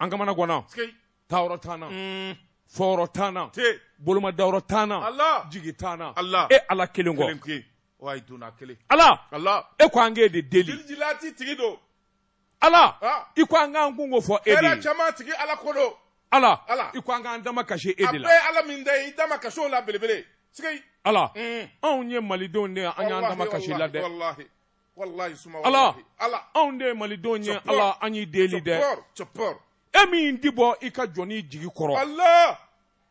an kamana ganna taayɔrɔ t'an na fɔyɔrɔ t'an na boloma dayɔrɔ t'an na jigi t'an na ala e ala kelen kɔ ala e ko an k'e de deli ala i ko an k'an kunko fɔ e de ye ala ko ala i ko an k'an damakasi e de la ala min i damakasi la belebele ala anw ye malidenw de ye an y'an damakasi la dɛ ala ala anw de ye malidenw ye ala an y'i deli dɛ e min tɛ bɔ i ka jɔnnin jigi kɔrɔ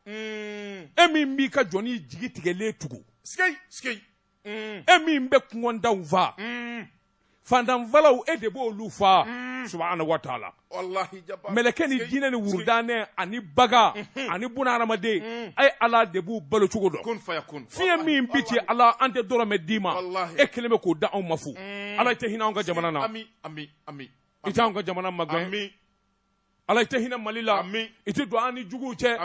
mm. e min b'i ka jɔnnin jigi tigɛlen tugu mm. e min bɛ kɔngɔtɔw fa mm. faantan falaw e de b'olu fa subhanahu wa taala mɛlɛkɛ ni jinɛ ni wurudanɛ ani bagan mhm. ani buna adamaden mhm. a ye ala de b'u balocogo dɔn fiɲɛ min bi ci ala an tɛ dɔrɔmɛ d'i ma e kelen bɛ k'o d'anw ma fu mm. ala i tɛ hinɛ anw ka jamana na i tɛ anw ka jamana magɛn ala i tɛ hinɛ mali la i tɛ don an ni juguw cɛ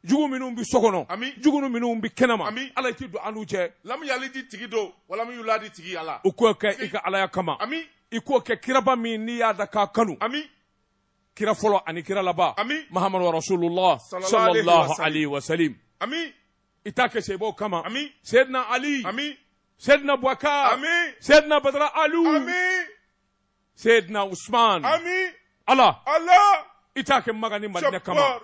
jugu minnu bɛ so kɔnɔ ami jugu minnu bɛ kɛnɛma ami ala i tɛ don an n'u cɛ lamu yalidi tigi don walamu yuladi tigi ala i k'o kɛ i ka alaya kama ami i k'o kɛ kiraba min n'i y'a da k'a kanu ami kira fɔlɔ ani kira laban ami mahamadu rasulullah sallallahu alaihi wa sallam ami i t'a kɛ sahabaw kama ami seyidina ali ami seyidina bubakar ami seyidina badara alu ami Seydina Usman ami Allah Allah i t'a kɛ Makan ni Madinɛ kama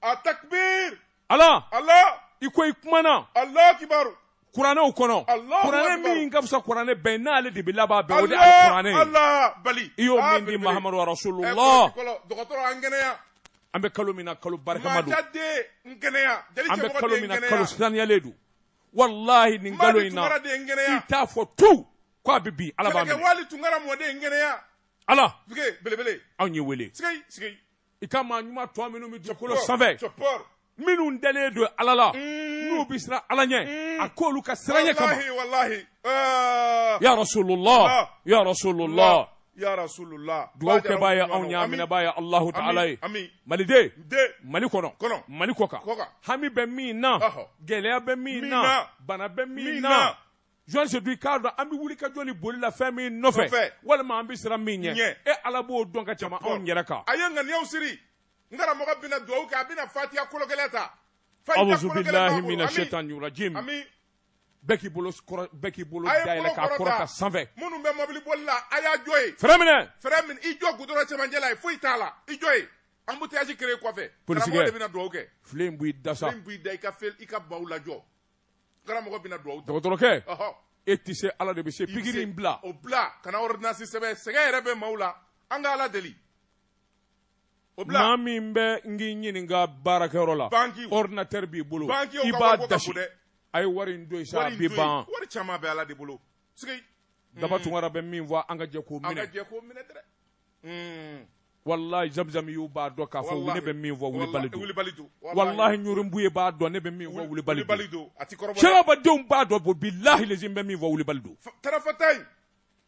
a takbir Allah Allah i ko i kumana Allahu akibaru kuranɛw kɔnɔ kuranɛ min ka fisa kuranɛ bɛɛ n'ale de bɛ laban bɛɛ o de ye kuranɛ ye i y'o min di mahamadu rasulullah an bɛ kalo min na kalo barikama don an bɛ kalo min na kalo saniyalen don walahi nin kalo in na i t'a fɔ tu ko a bɛ bin ala b'a minɛ wali tunkara mɔden kɛnɛya ala belebele anw y'e wele sigi sigi i ka maa ɲuman tɔ minnu bɛ dugukolo sanfɛ minnu dalen don ala la mm. n'u bɛ siran ala ɲɛ mm. a k'olu ka siranɲɛ kama ya rasulullah ya rasulullah dugawukɛbaa ye anw ye a minɛbaa ye alahu taala ye maliden mali kɔnɔ mali kɔkan hami bɛ min na gɛlɛya bɛ min na bana bɛ min na jɔn se i k'a dɔn an bɛ wuli ka jɔ ni boli la fɛn min nɔfɛ walima an bɛ siran min ɲɛ e ala b'o dɔn ka tɛmɛ anw yɛrɛ kan a ye ŋaniyaw siri n karamɔgɔ bɛna dugawu kɛ a bɛna fatiya kologɛlɛn ta. awuzu bilahi mina shetani rajim. bɛɛ k'i bolo kɔrɔ bɛɛ k'i bolo dayɛlɛ k'a kɔrɔta sanfɛ minnu bɛ mɔbili boli la a y'a jɔ yen fɛrɛn minɛ fɛrɛn minɛ i jɔ gudɔrɔn cɛmancɛ la yen foyi t'a la i jɔ yen embouteillage créer kɔfɛ karamɔgɔ de bɛna dugawu kɛ filen in b'i da sa filen b'i da i ka fel i ka baw lajɔ karamɔgɔ bɛna dugawu ta dɔgɔtɔrɔkɛ ɔhɔ e tɛ se ala de bɛ se pikiri in bila o bila kana ordonnance sɛbɛn sɛgɛn yɛrɛ bɛ maaw la an ka ala deli O bila maa min bɛ n k'i ɲininka baarakɛyɔrɔ la Banque o. ordinateur b'i bolo Banque o i ka b'a wariko ka dasi bon dɛ. a ye wari in don yen sa wari a in bɛ to yen. ban wari caman bɛ ala de bolo sigi daba tunkara bɛ min fɔ an ka jɛ k'o an ka minɛ jɛ k'o minɛ dɛrɛ Hmm. walahi zamizamiyuw b'a dɔn k'a fɔ Walahi. ne bɛ min fɔ wulibali Walahi, don wulibali don walahi ɲurunbu ye b'a dɔn ne bɛ min fɔ wulibali don wulibali don a ti kɔrɔbɔ dɛ. sirabadenw b'a dɔn bɔ bilahi lezi n bɛ min fɔ wulibali don Fa- tarafata in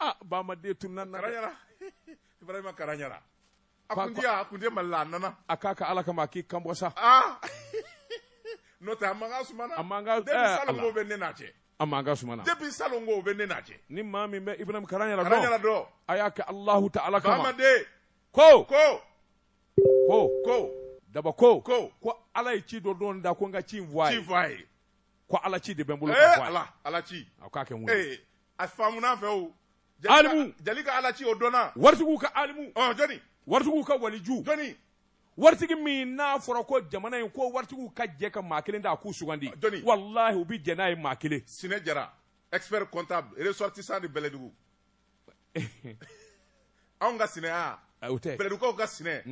ah ba ma de tun nan karanyara ibrahima karanyara a kun diya a kun diya mali la a nana a k'a kɛ ala kama a k'i kan bɔ sa ah n'o tɛ a mankan sumana a mankan depuis eh, salon ko bɛ ne n'a cɛ a mankan sumana depuis salon ko bɛ ne n'a cɛ ni maa min bɛ ibrahima karanyara dɔn karanyara dɔn a y'a kɛ alahu taala kama bamaden ko ko ko ko daba ko ko ko ala ye ci dɔ don n da ko n ka ci in fɔ a ye ci fɔ a ye ko ala ci de bɛ n bolo ka eh, fɔ a ye ala ala ci a k'a kɛ n wele a faamuna fɛwu alimu jeli ka ala ci o dɔnna waritigiw ka alimu ɔ jɔni waritigiw ka waliju jɔni waritigi min n'a fɔra ko jamana in ko waritigiw ka jɛ ka maa kelen ta a k'o sugandi jɔni walahi u bɛ jɛn n'a ye maa kelen sinɛ jara expert comptable ressortissant de bɛlɛdugu anw ka sinɛ a o tɛ bɛlɛdugukaw ka sinɛ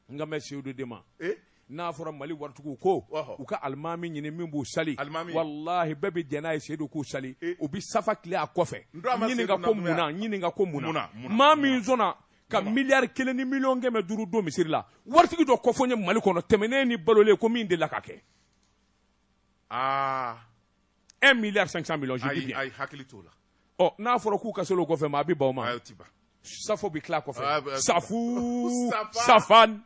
n kan bɛ seyidu de ma eh? n'a fɔra mali waritigiw ko u ka alimami ɲini min b'u sali walahi bɛɛ bɛ jɛn n'a ye seyidu k'u sali eh? u bɛ safu tilen a kɔfɛ ɲininka ko mun na ɲininka ko mun na maa min sɔnna ka miliyari kelen ni miliyɔn kɛmɛ duuru don misiri la waritigi dɔ kofɔ n ye mali kɔnɔ tɛmɛnen ni balolen ko min delila k'a kɛ aa ah. 1 milliard 500 millions je dis bien a y'i hakili t'o la ɔ oh, n'a fɔra k'u ka seli o kɔfɛ maa bɛ ban o ma ayi o ti ban safu bɛ tilen a kɔfɛ ah, bah, safu safan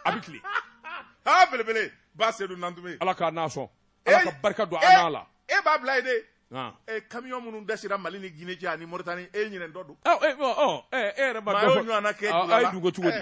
a bɛ tilen aa ah, belebele ba sedu nantume ala k'an n'a sɔn ala ka barika don an n'a la e b'a bila yen de Ah. Eh, camion minnu dasira mali ni guinée cɛ ani moritani e ɲinɛ dɔ don e yɛrɛ ma dɔ fɔ a ye dugu cogo di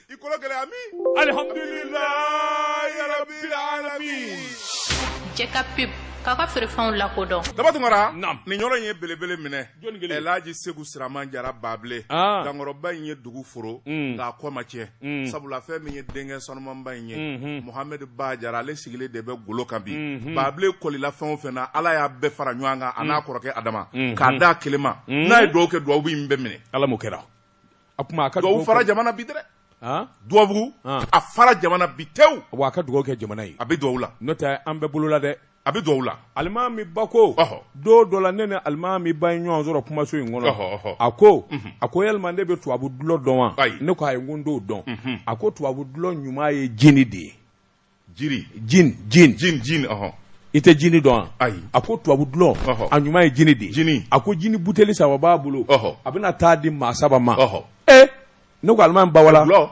i kolo gɛlɛya min alihamdulilayi rabbil alamin jɛ ka pub k'a ka feerefɛnw lakodɔn daba tunkara nin yɔrɔ in ye belebele minɛ elaji segu siraman jara baabile ah. dankɔrɔba in ye dugu foro mm. nka a kɔ ma tiɲɛ mm. sabula fɛn min ye denkɛ sanumanba in ye mm-hmm. mohamɛdi ba jara ale sigilen de bɛ golo kan bi mm-hmm. baabile kɔlila fɛn o fɛn na ala y'a bɛɛ fara ɲɔgɔn kan a n'a mm. kɔrɔkɛ adama mm-hmm. k'a d'a kelen ma n'a ye duwawu kɛ duwawu in bɛɛ minɛ ala m'o kɛra a tuma a ka dugawu fara jamana bi dɛ dubabugu a fara jamana bi tewu wa a ka dugawu kɛ jamana ye a bɛ dugawu la n'o tɛ an bɛɛ bolo la dɛ a bɛ dugawu la alimami ba ko don dɔ la ne ni alimami ba ye ɲɔgɔn sɔrɔ kumaso in kɔnɔ a ko a ko yalima ne bɛ tubabu dulɔ dɔn wa ne ko ayi n ko n t'o dɔn a ko tubabu dulɔ ɲuman ye jini de ye jini jin jin jin jin ɔhɔn i tɛ jini dɔn wa ayi a ko tubabu dulɔ Ɔhɔ. a ɲuman ye jini de ye Jini. a ko jini buteli saba b'a bolo Ɔhɔ. a bɛna taa di maa saba ma ɔhɔn ee ne ko alimami ba wala dulɔ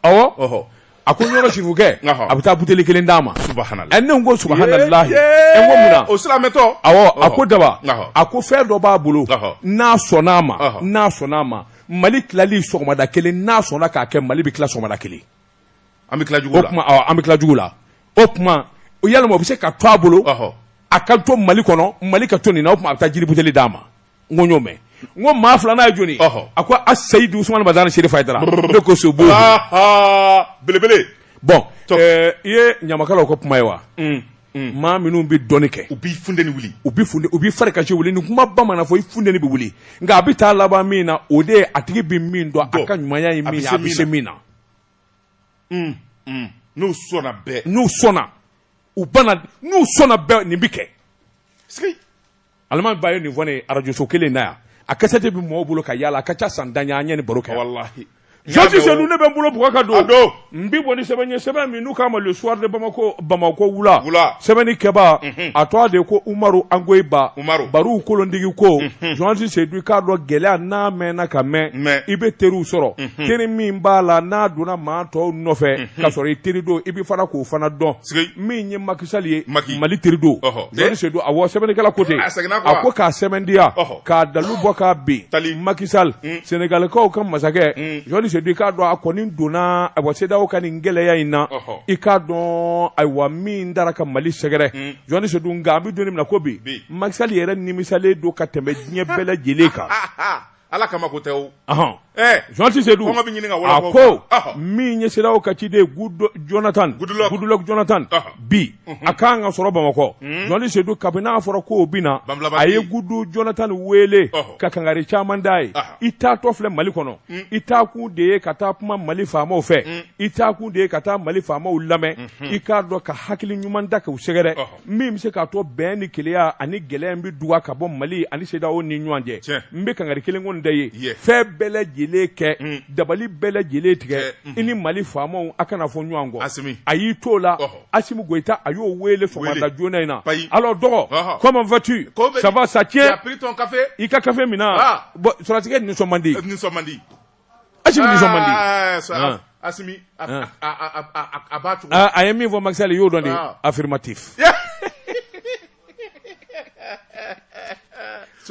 awɔ ɔhɔn a ko ɲɔrɔ sirifukɛ Ɔhɔ. a bɛ taa buteli kelen d'a ma subahanala ɛ ne ko subahanallahi ɛ n ko mun na o silamɛtɔ awɔ a ko daba Ɔhɔ. a ko fɛn dɔ b'a bolo Ɔhɔ. n'a sɔnna a ma Ɔhɔ. n'a sɔnna a ma mali tilali sɔgɔmada kelen n'a sɔnna k'a kɛ mali bɛ tila sɔgɔmada kelen an bɛ tila jugu la, an bɛ tila jugu la o tuma yalima o bɛ se ka to a bolo a ka to Mali kɔnɔ Mali ka to nin na o tuma a bɛ taa jini buteli d'a ma n ko n y'o mɛn n ko maa filanan ye jɔni a ko a Seyidu Usumani Madani Serifu Hayidara ne ko sobo belebele bɔn eh, i ye ɲamakalaw ka kuma ye wa mm, mm. maa minnu bɛ dɔnni kɛ u b'i funteni wuli u bɛ funteni u bɛ fari kasi wuli nin kumaba mana fɔ i funteni bɛ wuli nka a bɛ taa laban min na o de ye a tigi bɛ min dɔn a ka ɲumanya ye min ye a bɛ se min na. n'u sɔnna bɛɛ n'u sɔnna u n'u sɔnna bɛɛ nin bɛ kɛ alimami ba ye nin fɔ ne ye arajoso kelen na yan a kasɛti bɛ mɔgɔw bolo ka yaala a ka ca san tan ye an ye nin baro kɛ wallahi journaliste sedu ne bɛ n bolo bugɔ ka don don n bɛ bɔ ni sɛbɛn ye sɛbɛn min n'u k'a ma le soir de bamakɔ bamakɔ wula sɛbɛnni kɛba a tɔgɔ de ko umaru angoyiba baru kolondigi ko journaliste seyidu i k'a dɔn gɛlɛya n'a mɛnna ka mɛn i bɛ teriw sɔrɔ teri min b'a la n'a donna maa tɔw nɔfɛ ka sɔrɔ i teri don i bɛ fana k'o fana dɔn min ye Macky Sall ye mali teri don journaliste seyidu awɔ sɛbɛnnikɛla ko ten a ko k'a sɛbɛntiya k'a dalu bɔ kabini Macky Sall sɛnɛgalikaw ka masakɛ journaliste seyidu i k'a dɔn a kɔni donna CEDEAO ka nin gɛlɛya in na i k'a dɔn ayiwa min taara ka mali sɛgɛrɛ hmm. journaliste sedu nka an bɛ don min na ko bi Macky Sall yɛrɛ nimisalen don ka tɛmɛ diɲɛ bɛɛ lajɛlen kan ala kama ko tɛ o journaliste sedu kɔngɔ bɛ ɲini ka wala a ko min ye CEDEAO ka ciden jonathan goodluck jonathan bi mhm. a kan ka sɔrɔ bamakɔ hmm. journaliste sedu kabini n'a fɔra ko o bɛ na a ye gudu jonathan wele ka kangari caman d'a ye i taatɔ filɛ mali kɔnɔ hmm. i taakun de ye ka taa kuma mali faamaw fɛ hmm. i taakun de ye ka taa mali faamaw lamɛn i k'a dɔn ka hakili ɲuman da k'u sɛgɛrɛ min bɛ se k'a to bɛn ni keleya ani gɛlɛya bɛ duga ka bɔ mali ani sedaw ni ɲɔgɔn cɛ n bɛ kangari kelen kɔni da i ye fɛn bɛɛ lajɛlen kɛ mm. dabali bɛɛ lajɛlen tigɛ mm-hmm. i ni mali faamaw a kana fɔ ɲɔgɔn kɔ a y'i to la asimi goyita a y'o wele sɔgɔmada joona in na allô dɔgɔ comment vas-tu ça va ça tient i ka kafe min na sɔrɔsikɛ nisɔn man di Asimi nisɔn man di ah, ah, ah. Asimi a b'a tugu a ye min fɔ Macky Sall y'o dɔn de affirmatif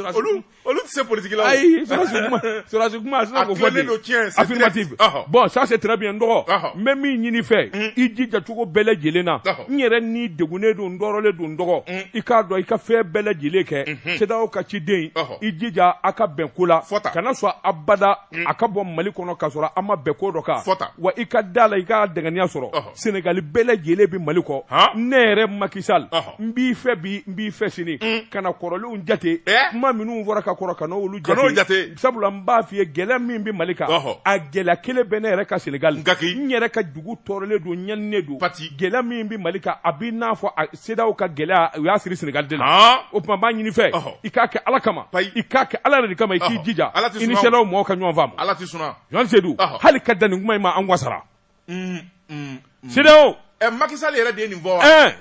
olu olu tɛ se politique la ayi sɔrɔsi kuma sɔrɔsi kuma a sera k'o fɔ de affirmative bon ça c'est très bien n dɔgɔ n bɛ min ɲini i fɛ mm. i jija cogo bɛɛ lajɛlen na n yɛrɛ ni degunnen don n tɔɔrɔlen don n dɔgɔ mm. i k'a dɔn i ka fɛn bɛɛ lajɛlen kɛ CEDEAO mm-hmm. ka ciden i jija a ka bɛn ko la fɔta kana sɔn abada mm. a ka bɔ mali kɔnɔ ka sɔrɔ an ma bɛn ko dɔ kan fɔta wa i ka da a la i ka dɛnkɛnɛya sɔrɔ senegali bɛɛ lajɛlen bɛ mali kɔ ne yɛrɛ makisal n b'i fɛ bi n b'i fɛ sini mm. kana kɔrɔlenw jate eh? kuma minnu fɔra ka kɔrɔ kana olu jate sabula n b'a f'i ye gɛlɛya min bɛ mali kan a gɛlɛya kelen bɛ ne yɛrɛ ka senegali n yɛrɛ ka dugu tɔɔrɔlen don ɲaninen don gɛlɛya min bɛ mali kan a b'i n'a fɔ sedaw ka gɛlɛya u y'a siri Senegal de la ɔɔ o tuma n b'a ɲini i fɛ Ɔhɔ. i k'a kɛ Ala kama Payi. i k'a kɛ Ala yɛrɛ de kama i k'i Ɔhɔ. jija Ala tɛ i ni suma o. sedaw mɔgɔw ka ɲɔgɔn faamu ala tɛ sɔnna Jɔn Sedu Ɔhɔ. hali ka dan nin kuma in ma an wasara Mm, mm, mm. sedaw ɛ makisali yɛrɛ de ye nin fɔ wa ɛɛ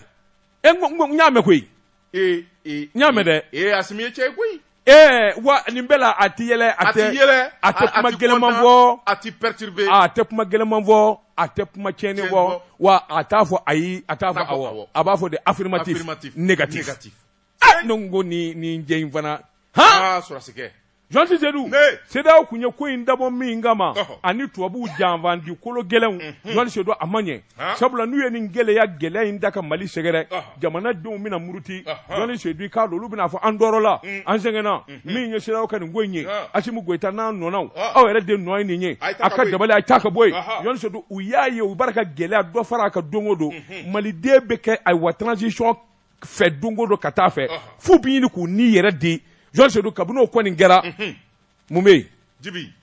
e n ko- n ko- n y'a mɛn koyi ee ee n y'a mɛn dɛ ee asimi ye cɛ ye koyi Ee wa nin bɛɛ la a tɛ yɛlɛ a tɛ yɛlɛ a tɛ kuma gɛlɛnman fɔ a tɛ perturbé a tɛ kuma gɛlɛnman fɔ a tɛ kuma tiɲɛni fɔ wa a t'a fɔ ayi a t'a fɔ awɔ a b'a fɔ de affirmatif négatif aa ne ko n ko nin nin cɛ in fana han aa sɔrɔsikɛ Jonsi Seydou ni CEDEAO tun ye ko in dabɔ min kama ani tubabuw janfanci kolo gɛlɛnw Jonsi Seydou a ma ɲɛ. sabula n'u ye nin gɛlɛya gɛlɛya in da ka mali sɛgɛrɛ jamanadenw bɛna muruti jɔn sedu k'a dɔn olu bɛna fɔ an tɔɔrɔla mm. an sɛgɛnna mm-hmm. min ye sedaw ka nin ko in ye asimi goyita n'a nɔnaw aw yɛrɛ de nɔ ye nin ye a ka dabali a ta ka bɔ yen jɔn sedu u y'a ye u b'a ka gɛlɛya dɔ fara a kan don o don mm-hmm. maliden bɛ kɛ ayiwa transition fɛ don o don ka taa a fɛ f'u bɛ ɲini k'u ni yɛrɛ di jɔn sedu kabini o kɔni kɛra mm-hmm. mun bɛ yen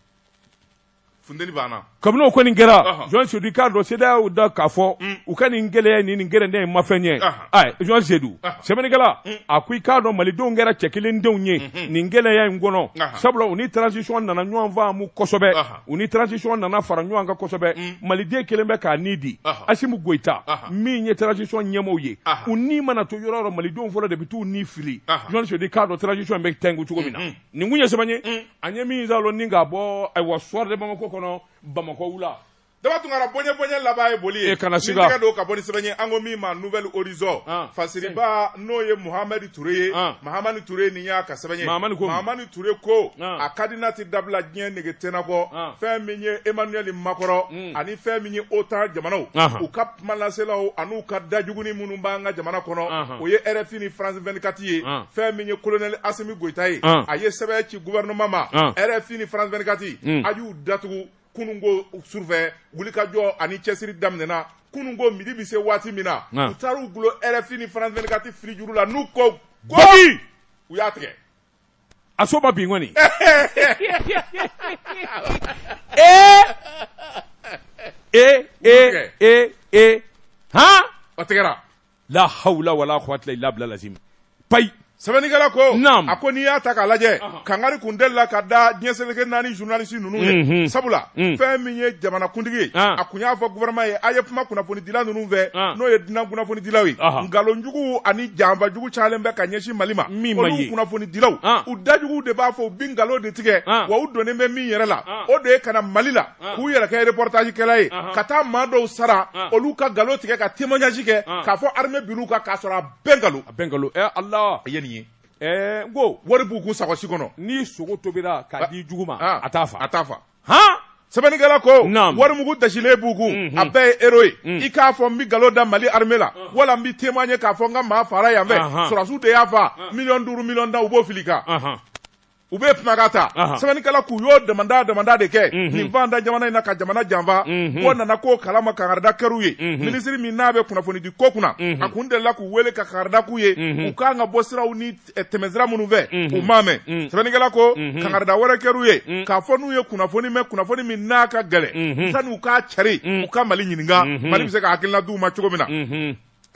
funteni banna kabini o kɔni kɛra Ɔhɔn. jɔn sedu i k'a dɔn sedaw y'u da k'a fɔ u ka nin gɛlɛya ni nin gɛrɛndɛ in ma fɛn ɲɛ Ɔhɔn. Ayi, jɔn sedu Ɔhɔn. sɛbɛnnikɛla a ko i k'a dɔn malidenw kɛra cɛ kelen denw ye nin gɛlɛya in kɔnɔ Ɔhɔn. sabula u ni transition nana ɲɔgɔn faamu kosɛbɛ Ɔhɔn. u ni transition nana fara ɲɔgɔn kan kosɛbɛ maliden kelen bɛ k'a ni di Ɔhɔn. asimi goyita Ɔhɔn. min ye transition ɲɛmɔgɔw ye Ɔhɔn. u ni mana to yɔrɔ o yɔrɔ malidenw fɔlɔ de bɛ t'u ni fili Ɔhɔn. jɔn sedu i k'a dɔn transition in bɛ tɛnku cogo min na nin kun ye sɛbɛn ye an ye min zalo ni k'a bɔ ayiwa soir de bamako kɔnɔ bamakɔ wula daba tunkara bonya bonya laban ye boli ye e kana siga ni tɛgɛ don ka bɔ ni sɛbɛn ye an ko min ma nouvel horizon ah. fasiriba n'o ye muhamadi ture ye ah. mahamani ture nin y'a ka sɛbɛn ye mahamani ture ko ah. a kadina tɛ dabila diɲɛ nege tɛna kɔ fɛn min ye emmanuel macron hmm. ani fɛn min ye otan jamanaw u ka kumalaselaw ani u ka dajuguni minnu b'an ka jamana kɔnɔ o ye rfi ni france vingt-quatre ye fɛn min ye colonel assimi goïta ye a ye sɛbɛn ci gouvernement ma rfi ni france vingt-quatre a y'u datugu kununko sufɛ wulikajɔ ani cɛsiri daminɛna kunun ko midi bɛ se waati min na u taara u gulon rfi ni france vingt-quatre fili juru la n'u ko u y'a tigɛ a so ma bin kɔni ee ee ee ee ee han o tigɛra la hawla wala quwwata illa billah lazim payi sɛbɛnnikɛla ko Naam. a ko n'i y'a ta k'a lajɛ kangari kun delila ka da diɲɛ seleke naani journaliste ninnu ye Mhm. sabula Mm. fɛn min ye jamanakuntigi ye Ah. a kun y'a fɔ gouvernement ye a ye kuma kunnafoni dila ninnu fɛ n'o ye dunan kunnafoni dilaw ye nkalonjugu ani janfajugu calen bɛ ka ɲɛsin mali ma olu kunnafoni dilaw u dajugu de b'a fɔ u bi nkalon de tigɛ wa u donnen bɛ min yɛrɛ la o de ye ka na mali la k'u yɛrɛ kɛ reportage kɛla ye ka taa maa dɔw sara olu ka nkalon tigɛ ka témoignage kɛ k'a fɔ armée binn'u kan k'a sɔrɔ a bɛɛ nkalon a bɛɛ nkalon ala a ye nin ye ko wari b'u kun sakosi kɔnɔ ni sogo tobira k'a di jugu ma a t'a fa a t'a fa hɔn sɛbɛnnikɛla ko Naamu. warimugu dasilen b'u kun Unhun. a bɛɛ ye euro ye i k'a fɔ n bɛ nkalon da mali armée la wala n bɛ témoigner k'a fɔ n ka maa fara yan fɛ Ahan. sɔrɔdasiw de y'a fa miliyɔn duuru miliyɔn tan u b'o fil'i kan Ahan. u bɛ kumakan ta Ahan. sɛbɛnnikɛla k'u y'o damanda damanda de kɛ Mhm. ni fɛn da jamana in na ka jamana janfa Mhm. k'o nana k'o kalama kangarida kɛr'u ye Mhm. minisiri min n'a bɛ kunnafonidi ko kunna Mhm. a kun delila k'u wele ka kangarida k'u ye Mhm. u kan ka bɔ siraw ni tɛmɛsira minnu fɛ u m'a mɛn sɛbɛnnikɛla ko kangarida wɛrɛ kɛr'u ye k'a fɔ n'u ye kunnafoni mɛn kunnafoni min n'a ka gɛlɛn sani u k'a cari u ka mali ɲininka mali bɛ se ka hakilina d'u ma cogo min na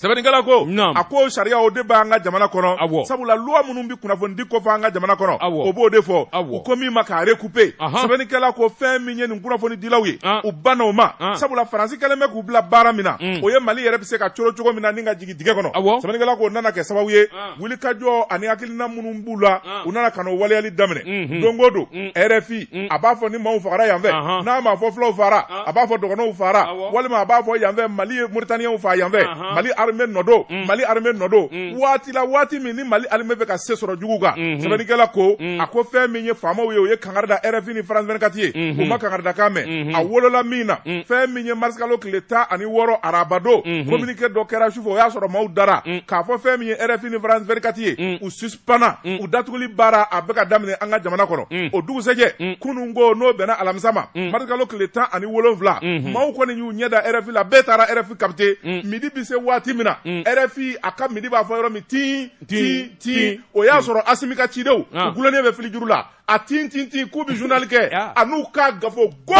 sɛbɛnnikɛla ko a ko sariya o de b'an ka jamana kɔnɔ awɔ sabula loi minnu bɛ kunnafoni di ko fɔ an ka jamana kɔnɔ awɔ o b'o de fɔ u ko min ma k'a recouper sɛbɛnnikɛla ko fɛn min ye nin kunnafoni dilaw ye u banna o ma sabula faransi kɛlen bɛ k'u bila baara min na o ye mali yɛrɛ bɛ se ka coron cogo min na ni ka jigin dingɛ kɔnɔ, awɔ, sɛbɛnnikɛla k'o nana kɛ sababu ye wulikajɔ ani hakilina minnu b'u la u nana ka n'o waleyali daminɛ, unhun, don o don RFI a b'a fɔ ni maaw fagara yan fɛ, n'a ma fɔ fulaw fagara a b'a fɔ dɔgɔnɔw fagara walima a b'a fɔ yan fɛ Mali ye Mauritaniens faga yan fɛ, Mali armée nɔ don, Mali armée nɔ don, waati la waati min ni Mali armée bɛ ka se sɔrɔ juguw kan, unhun, sɛbɛnnikɛla ko, a ko fɛn min ye faamaw ye o ye kangari da rfi ni france 24 ye u ma kangaridakan mɛn a wolola min na fɛn min ye marisikalo tile tan ani wɔɔrɔ arabado communiqué dɔ kɛra sufɛ o y'a sɔrɔ maaw dara k'a fɔ fɛn min ye rfi ni france 24 ye u suspana u datuguli baara a bɛ ka daminɛ an ka jamana kɔnɔ o dugusɛjɛ kunun ko n'o bɛnna alamisa ma marisikalo tile tan ani wolonwula maaw kɔni y'u ɲɛ da rfi la bɛɛ taara rfi capter midi bɛ se waati min na rfi a ka midi b'a fɔ yɔrɔ min tin tin tin o y'a sɔrɔ asimi ka cidenw u gulonnen bɛ filijuru la a tin tin tin k'u bɛ journal kɛ a n'u k'a gafo go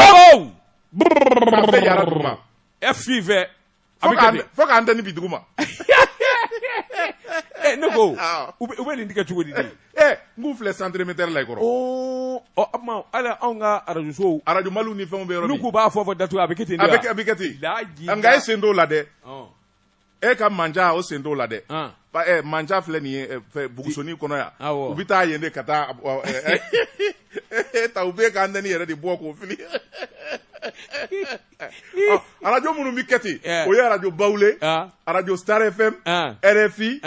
bɛɛ jara duguma FIV a bɛ kɛ ten fo k'antenne bi duguma ne ko u bɛ nin tigɛ cogo di de n k'u filɛ centre émetteur la i kɔrɔ o tuma hali anw ka arajo sow arajo Maliw ni fɛnw bɛ yɔrɔ min n'u k'u b'a fɔ fɔ datugu a bɛ kɛ ten de wa a bɛ kɛ ten nka e sen t'o la dɛ. e ka manja o sen t'o la dɛ eh, manja filɛ nin ye eh, bugusoni kɔnɔ yan u bɛ taa yen de ka taa eh, e ta u bɛ k'antenne yɛrɛ de bɔ k'o fili oh, arajo minnu bɛ kɛ ten o ye arajo bawule arajo star fm rfi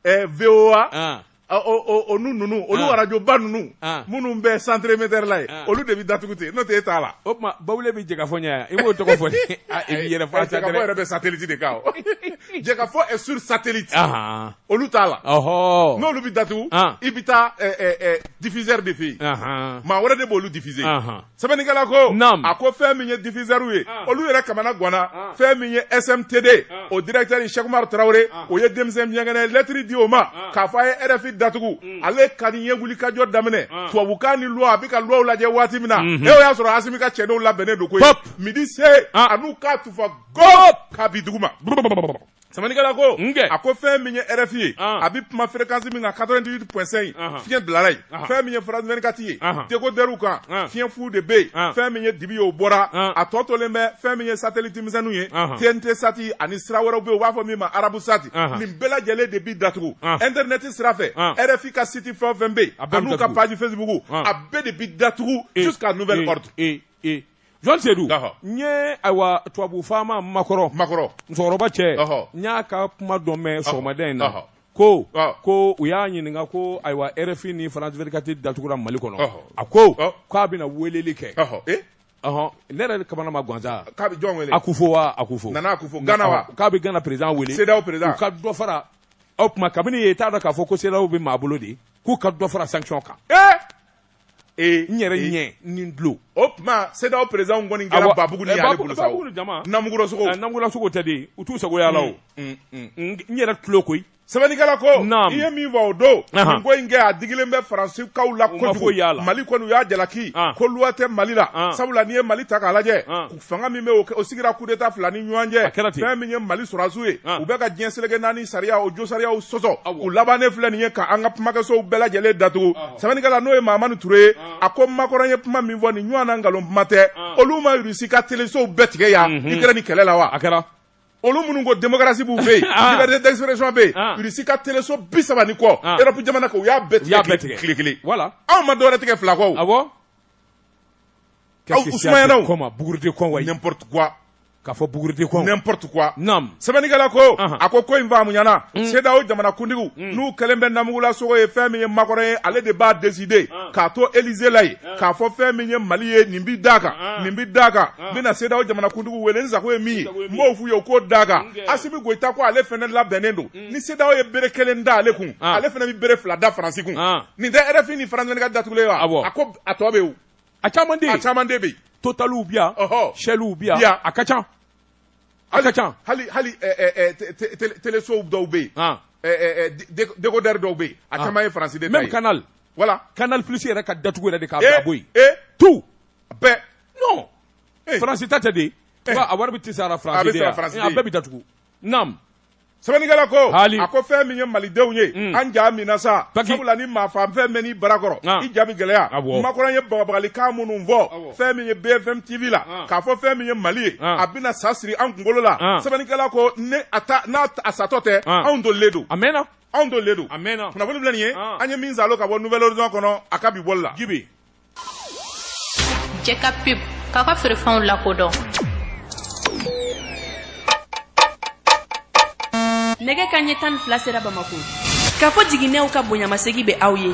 Ɛɛ VOA an ɔ o o o n'u ninnu olu An. radio ba ninnu An. minnu bɛ centre émetteur la yen An. olu de bɛ datugu ten n'o tɛ e t'a la o tuma bawule bɛ Jɛkafɔ ɲɛ yan i b'o tɔgɔ fɔ dɛ Ah, i b'i yɛrɛ fɔ a Jɛkafɔ yɛrɛ bɛ satellite de kan o. Jɛkafɔ est sur satellite ahan olu t'a la ɔhɔ n'olu bɛ datugu An. i bɛ taa ɛ, ɛ, ɛ, diffuseur de fɛ yen ahan maa wɛrɛ de b'olu diffuser ahan sɛbɛnnikɛla ko a ko fɛn min ye diffuseur ye ah. olu yɛrɛ kamana ganna ah. fɛn min ye SMTD ah. o directeur Cheikh Oumar Traoré o ye denmisɛn miyankɛnɛ lettre di o ma k'a fɔ a ye RFI datugu mm. ale ka nin ye wulikajɔ daminɛ tubabukan ni loi a bɛ ka loi lajɛ waati min na mhm. e o y'a sɔrɔ Asimi ka cɛdenw labɛnnen don koyi midi se a n'u k'a tufa gop k'a bi duguma Sɛbɛnnikɛla ko nkɛ a ko fɛn min ye RFI ye a bɛ kuma fréquence min kan 88.5 fiɲɛ bilala yen fɛn min ye France 24 ye décodeur kan fiɲɛ fu de bɛ yen fɛn min ye dibi ye o bɔra a tɔ tolen bɛ fɛn min ye satellite misɛnninw ye TNT sati ani sira wɛrɛw bɛ yen u b'a fɔ min ma arabu sati nin bɛɛ lajɛlen de bɛ datugu internet sira fɛ RFI ka site fɛn o fɛn bɛ yen a n'u ka page Facebook a bɛɛ de bɛ datugu jusqu'à nouvel ordre. Jɔn Seydou n ye ayiwa tubabu faama Macron musokɔrɔba cɛ n y'a ka kuma dɔ mɛn sɔgɔmada in na ko ko u y'a ɲininka ko ayiwa RFI ni France 24 datugura mali kɔnɔ a ko k'a bɛna weleli kɛ ɔɔn ne yɛrɛ kamana ma gan sa k'a bɛ jɔn wele Akufo wa Akufo fo k'a bɛ Gana président wele CEDEAO président u ka dɔ fara o tuma kabini ye t'a dɔn k'a fɔ ko CEDEAO bɛ maa bolo de k'u ka dɔ fara sanction kan Ee n yɛrɛ ɲɛ ni tulo o tuma cedeao président kɔni kɛra babugu ni namugulasogo tɛ de u t'u sagoya la o n yɛrɛ tulo koyi sɛbɛnnikɛla ko i ye min fɔ o don nin ko in kɛ a digilen bɛ faransikaw la kojugu yala mali kɔni u y'a jalaki ko loi tɛ mali la sabula n'i ye mali ta k'a lajɛ fanga min bɛ o sigira kudeta fila ni ɲɔgɔn cɛ fɛn min ye mali sɔrɔdasiw ye u bɛ ka diɲɛ seleke naani sariya o jo sariyaw sɔsɔ u labannen filɛ nin ye ka an ka kumakɛsow bɛɛ lajɛlen datugu sɛbɛnnikɛla n'o ye mahamani ture ye a ko makɔrɔ ye kuma min fɔ nin ɲɔgɔn na nkalon kuma tɛ olu ma rusi ka telesow bɛɛ tigɛ yan ukraine kɛlɛ la wa olu minnu ko démocratie b'u fɛ yen liberté d'expression bɛ yen rusi ka teleso bi saba ni kɔ europe jamana kan u y'a bɛɛ tigɛ tile kelen anw ma dɔwɛrɛ tigɛ fila kɔ K'a fɔ n'importe quoi sɛbɛnnikɛla ko a ko ko in faamuyana cedeao jamanakuntigiw n'u kɛlen bɛ namugulasogo ye fɛn min ye makɔrɔ ye ale de b'a décider k'a to élysée la yen k'a fɔ fɛn min ye mali ye nin bɛ da kan nin bɛ da kan n bɛna cedeao jamanakuntigiw wele n sago ye min ye n b'o f'u ye u k'o d'a kan asimi goyita ko ale fɛnɛ labɛnnen don ni cedeao ye bere kelen da ale kun ale fana bɛ bere fila da faransi kun nin tɛ rfi ni france vingt-quatre datugulen wa a ko a tɔ bɛ a caman a caman de bɛ totaliw bi yan shelliw bi yan a ka ca a ka ca hali hali telesow dɔw bɛ yen décodeur dɔw bɛ yen a caman ye faransi de même canal voilà canal plus yɛrɛ ka datugu yɛrɛ de k'a bila bɔ yen tout bɛɛ non faransi ta tɛ de a wari bɛɛ tɛ sara faransi a bɛɛ bɛ datugu naam sɛbɛnnikɛla ko a ko fɛn min ye malidenw ye mm. an ja minna sa sabula ni maafaafɛn mɛnna i bara kɔrɔ ah. i ja bi gɛlɛya ah, makɔrɔ ye bagabagalikan minnu fɔ ah, fɛn min ye bfm tv la k'a fɔ fɛn min ye mali ye a bɛna sa siri an kunkolo la sɛbɛnnikɛla ko n'a satɔ tɛ anw dolilen don a mɛnna anw dolilen don a mɛnna kunnafoni filɛ nin ye an ye min salo ka bɔ nouvelle horizon kɔnɔ a ka bi bɔli la jibi jɛ ka pub k'aw ka feerefɛnw lakodɔn nɛgɛ kanɲɛ tan ni fila sera bamako k'a fɔ jiginnɛw ka bonyamasegi bɛ aw ye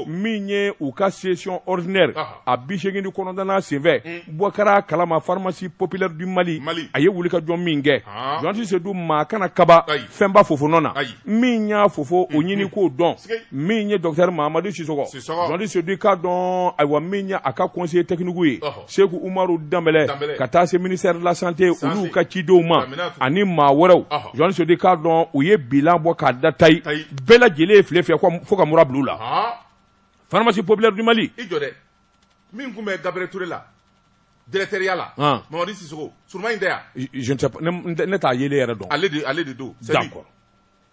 min ye u ka session ordinaire a bi seegin ni kɔnɔntɔnnan senfɛ hmm. bɔ kɛra kalama pharmacie populaire du mali a ye wulikajɔ min kɛ jɔnti sedu maa kana kaba fɛnba fofonɔ na min y'a fo fo o mhm. ɲini k'o dɔn min ye docteur mahamadu sisɔkɔ jɔnti sedu k'a dɔn ayiwa min ye a ka conseiller technique ye seku umaru danbɛlɛ ka taa se ministère de la santé olu ka cidenw ma ani maa wɛrɛw jɔnti sedu k'a dɔn u ye bilan bɔ k'a da tayi bɛɛ lajɛlen ye file fiyɛ fo ka mura bila u la pharmacie populaire du mali min tun bɛ Gabriel Touré la directeurya la mamadu sisogo surma in tɛ yan ne t'a ye yɛrɛ dɔn ale de ale de don d'accord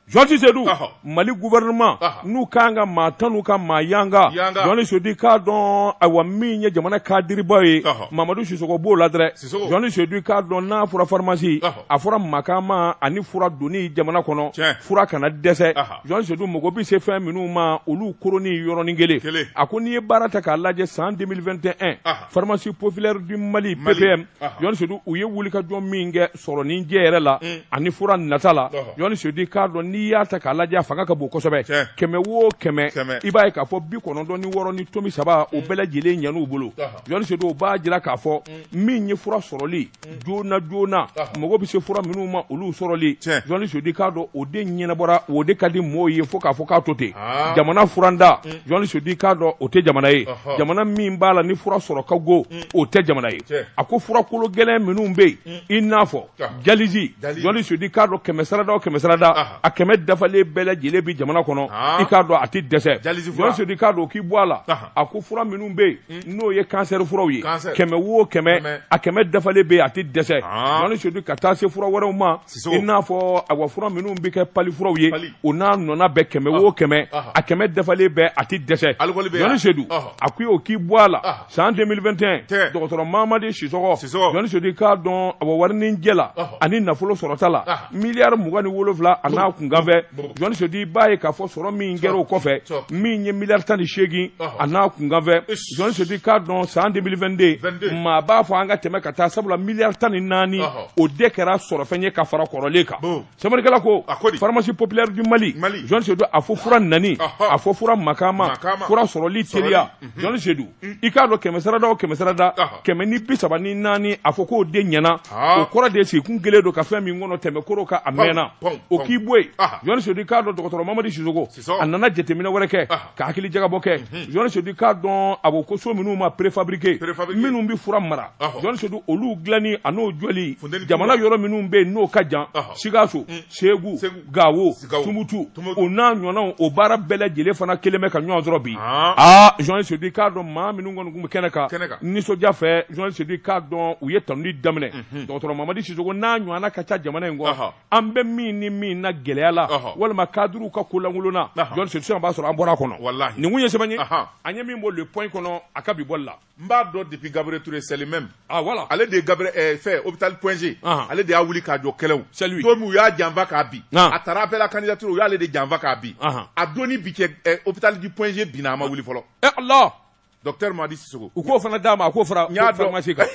journaliste sedu mali gouvernement n'u ka kan ka maa tanu u ka maa yanga journaliste sedu k'a dɔn awa min ye jamana kadiribaw ye mamadu sisogo b'o la dɛrɛ journaliste sedu k'a dɔn n'a fɔra farimasi a fɔra makama ani fura donni jamana kɔnɔ fura kana dɛsɛ journaliste sedu mago bɛ se fɛn minnu ma olu koroni yɔrɔnin kelen a ko n'i ye baara ta k'a lajɛ san 2021 pharmacie populaire du mali ppm journaliste sedu u ye wulikajɔ min kɛ sɔrɔnin jɛ yɛrɛ la mm. ani fura nata la journaliste sedu k'a dɔn n'i y'a ta k'a lajɛ a fanga ka bon kosɛbɛ kɛmɛ o kɛmɛ i b'a ye k'a fɔ bi kɔnɔntɔn ni wɔɔrɔ ni tomi saba o mm. bɛɛ lajɛlen ɲɛn'u bolo Journaliste sedu o b'a jira k'a fɔ min ye fura sɔrɔli joona joona mago bɛ se fura minnu ma olu sɔrɔli journaliste sedu k'a dɔn o de ɲɛnabɔra o de ka di mɔgɔw ye fo k'a fɔ k'a to ten jamana furantan journaliste sedu k'a dɔn o tɛ jamana ye jamana min b'a la ni fura sɔrɔ ka go o tɛ jamana ye a ko fura kologɛlɛn minnu bɛ yen i n'a fɔ dialyse journaliste sedu k'a dɔn kɛmɛ sarada kɛmɛ sarada a kɛmɛ dafalen bɛɛ lajɛlen bɛ jamana kɔnɔ i k'a dɔn a tɛ dɛsɛ journaliste sedu k'a dɔn k'i bɔ a la a ko fura minnu bɛ yen Hmm. n'o ye kansɛri furaw ye kɛmɛ o kɛmɛ a kɛmɛ dafalen bɛ a tɛ dɛsɛ ah. journaliste sedu ka taa se fura wɛrɛw ma i n'a fɔ awa fura minnu bɛ kɛ palu furaw ye o n'a ɲɔgɔnna bɛɛ kɛmɛ o ah. kɛmɛ ah. a kɛmɛ dafalen bɛ a tɛ dɛsɛ journaliste sedu a ko o k'i bɔ a la san 2021 dɔgɔtɔrɔ mamadi sisɔgɔ journaliste sedu k'a dɔn awa warinin jɛ la ani nafolo sɔrɔta la Miliyari mugan ni wolonwula a n'a kunkanfɛn journaliste sedu b'a ye k'a fɔ sɔrɔ min kɛra o kɔfɛ min ye miliyari tan ni seegin a n'a kunkanfɛn journaliste sedu k'a dɔn san 2022 maa b'a fɔ an ka tɛmɛ ka taa sabula miliyari tan ni naani o de kɛra sɔrɔfɛn ye ka fara kɔrɔlen kan serikɛla ko pharmacie populaire du mali journaliste sedu a fɔ fura nani a fɔ fura makama fura sɔrɔli teliya journaliste sedu i k'a dɔn kɛmɛ sarada o kɛmɛ sarada kɛmɛ ni bi saba ni naani a fɔ k'o de ɲɛna o kɔrɔ de sigi tun kɛlen don ka fɛn min kɔnɔ tɛmɛ koro ka a mɛnna o k'i bɔ yen journaliste sedu k'a dɔn dɔgɔtɔrɔ mamadi sisogo a nana jateminɛ wɛrɛ kɛ ka hakili jagabɔ kɛ journaliste sedu k'a dɔn a ko ko so minnu ma préfabriqué minnu bɛ fura mara journaliste sedu olu dilanni a n'o jɔli jamana yɔrɔ minnu bɛ yen n'o ka jan sikaso segu gawo tumutu o n'a ɲɔgɔnw o baara bɛɛ lajɛlen fana kɛlen bɛ ka ɲɔgɔn sɔrɔ bi aa journaliste sedu k'a dɔn maa minnu kɔni tun bɛ kɛnɛ kan nisɔndiya fɛ journaliste sedu k'a dɔn u ye tanuni daminɛ dɔgɔtɔrɔ mamadi sisogo n'a ɲɔgɔnna ka ca jamana in kɔ an bɛ min ni min na gɛlɛya la walima cadrew ka kolankolonna journaliste b'a sɔrɔ an bɔra kɔnɔ nin tun ye sɛbɛn ye an ye min bɔ le point kɔnɔ a ka bi bɔ la n b'a dɔn depuis Gabriel Touré c'est le même ah voilà ale de ye Gabriel ɛɛ eh, fɛ hôpital Point G ah. ale de y'a wuli k'a jɔ kɛlɛw c'est lui don min u y'a janfa k'a bin ah. a taara appel à candidature u y'ale de janfa k'a bin ah. a don ni bi cɛ eh, hôpital du Point G binna a ma wuli fɔlɔ eh Allah docteur Madi Sissoko u k'o fana d'a ma a k'o fara n y'a dɔn pharmacie kan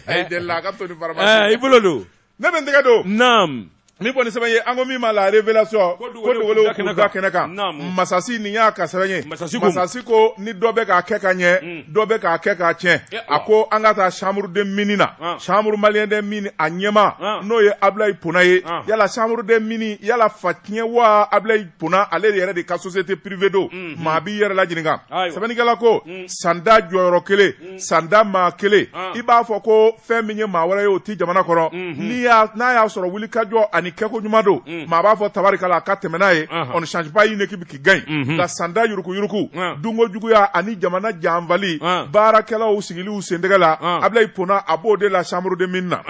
a ye deli la a ka to ni pharmacie eh, i bolo don ne bɛ n tɛgɛ don naam min fɔ ni sɛbɛn ye an ko min ma la révélation ko dogolenw k'u da kɛnɛ kan masasi nin y'a ka sɛbɛn ye masasi ko ni dɔ bɛ k'a kɛ ka ɲɛ mm. dɔ bɛ k'a kɛ k'a tiɲɛ eh, a ko an ka taa chambre des mines na ah. chambre malien des mines a ɲɛmaa ah. n'o ye Ablaye Pona ye ah. yala chambre des mines y'ale fa tiɲɛ wa Ablaye Pona ale yɛrɛ de ka société privée don mm-hmm. maa b'i yɛrɛ laɲininka sɛbɛnnikɛla ko mm. san tan jɔyɔrɔ kelen san tan maa kelen i b'a fɔ ko fɛn min ye maa wɛrɛ ye o tɛ jamana kɔnɔ n'a y'a sɔrɔ wulikajɔ ani kɛko ɲuman don maa b'a fɔ tabarikala a ka tɛmɛ n'a ye on ne change pas une équipe qui gagne nka san tan yuruguyurugu dunko juguya ani jamana janfali baarakɛlaw sigil'u sentɛgɛ la Ablaye Pona a b'o de la chambre des mines na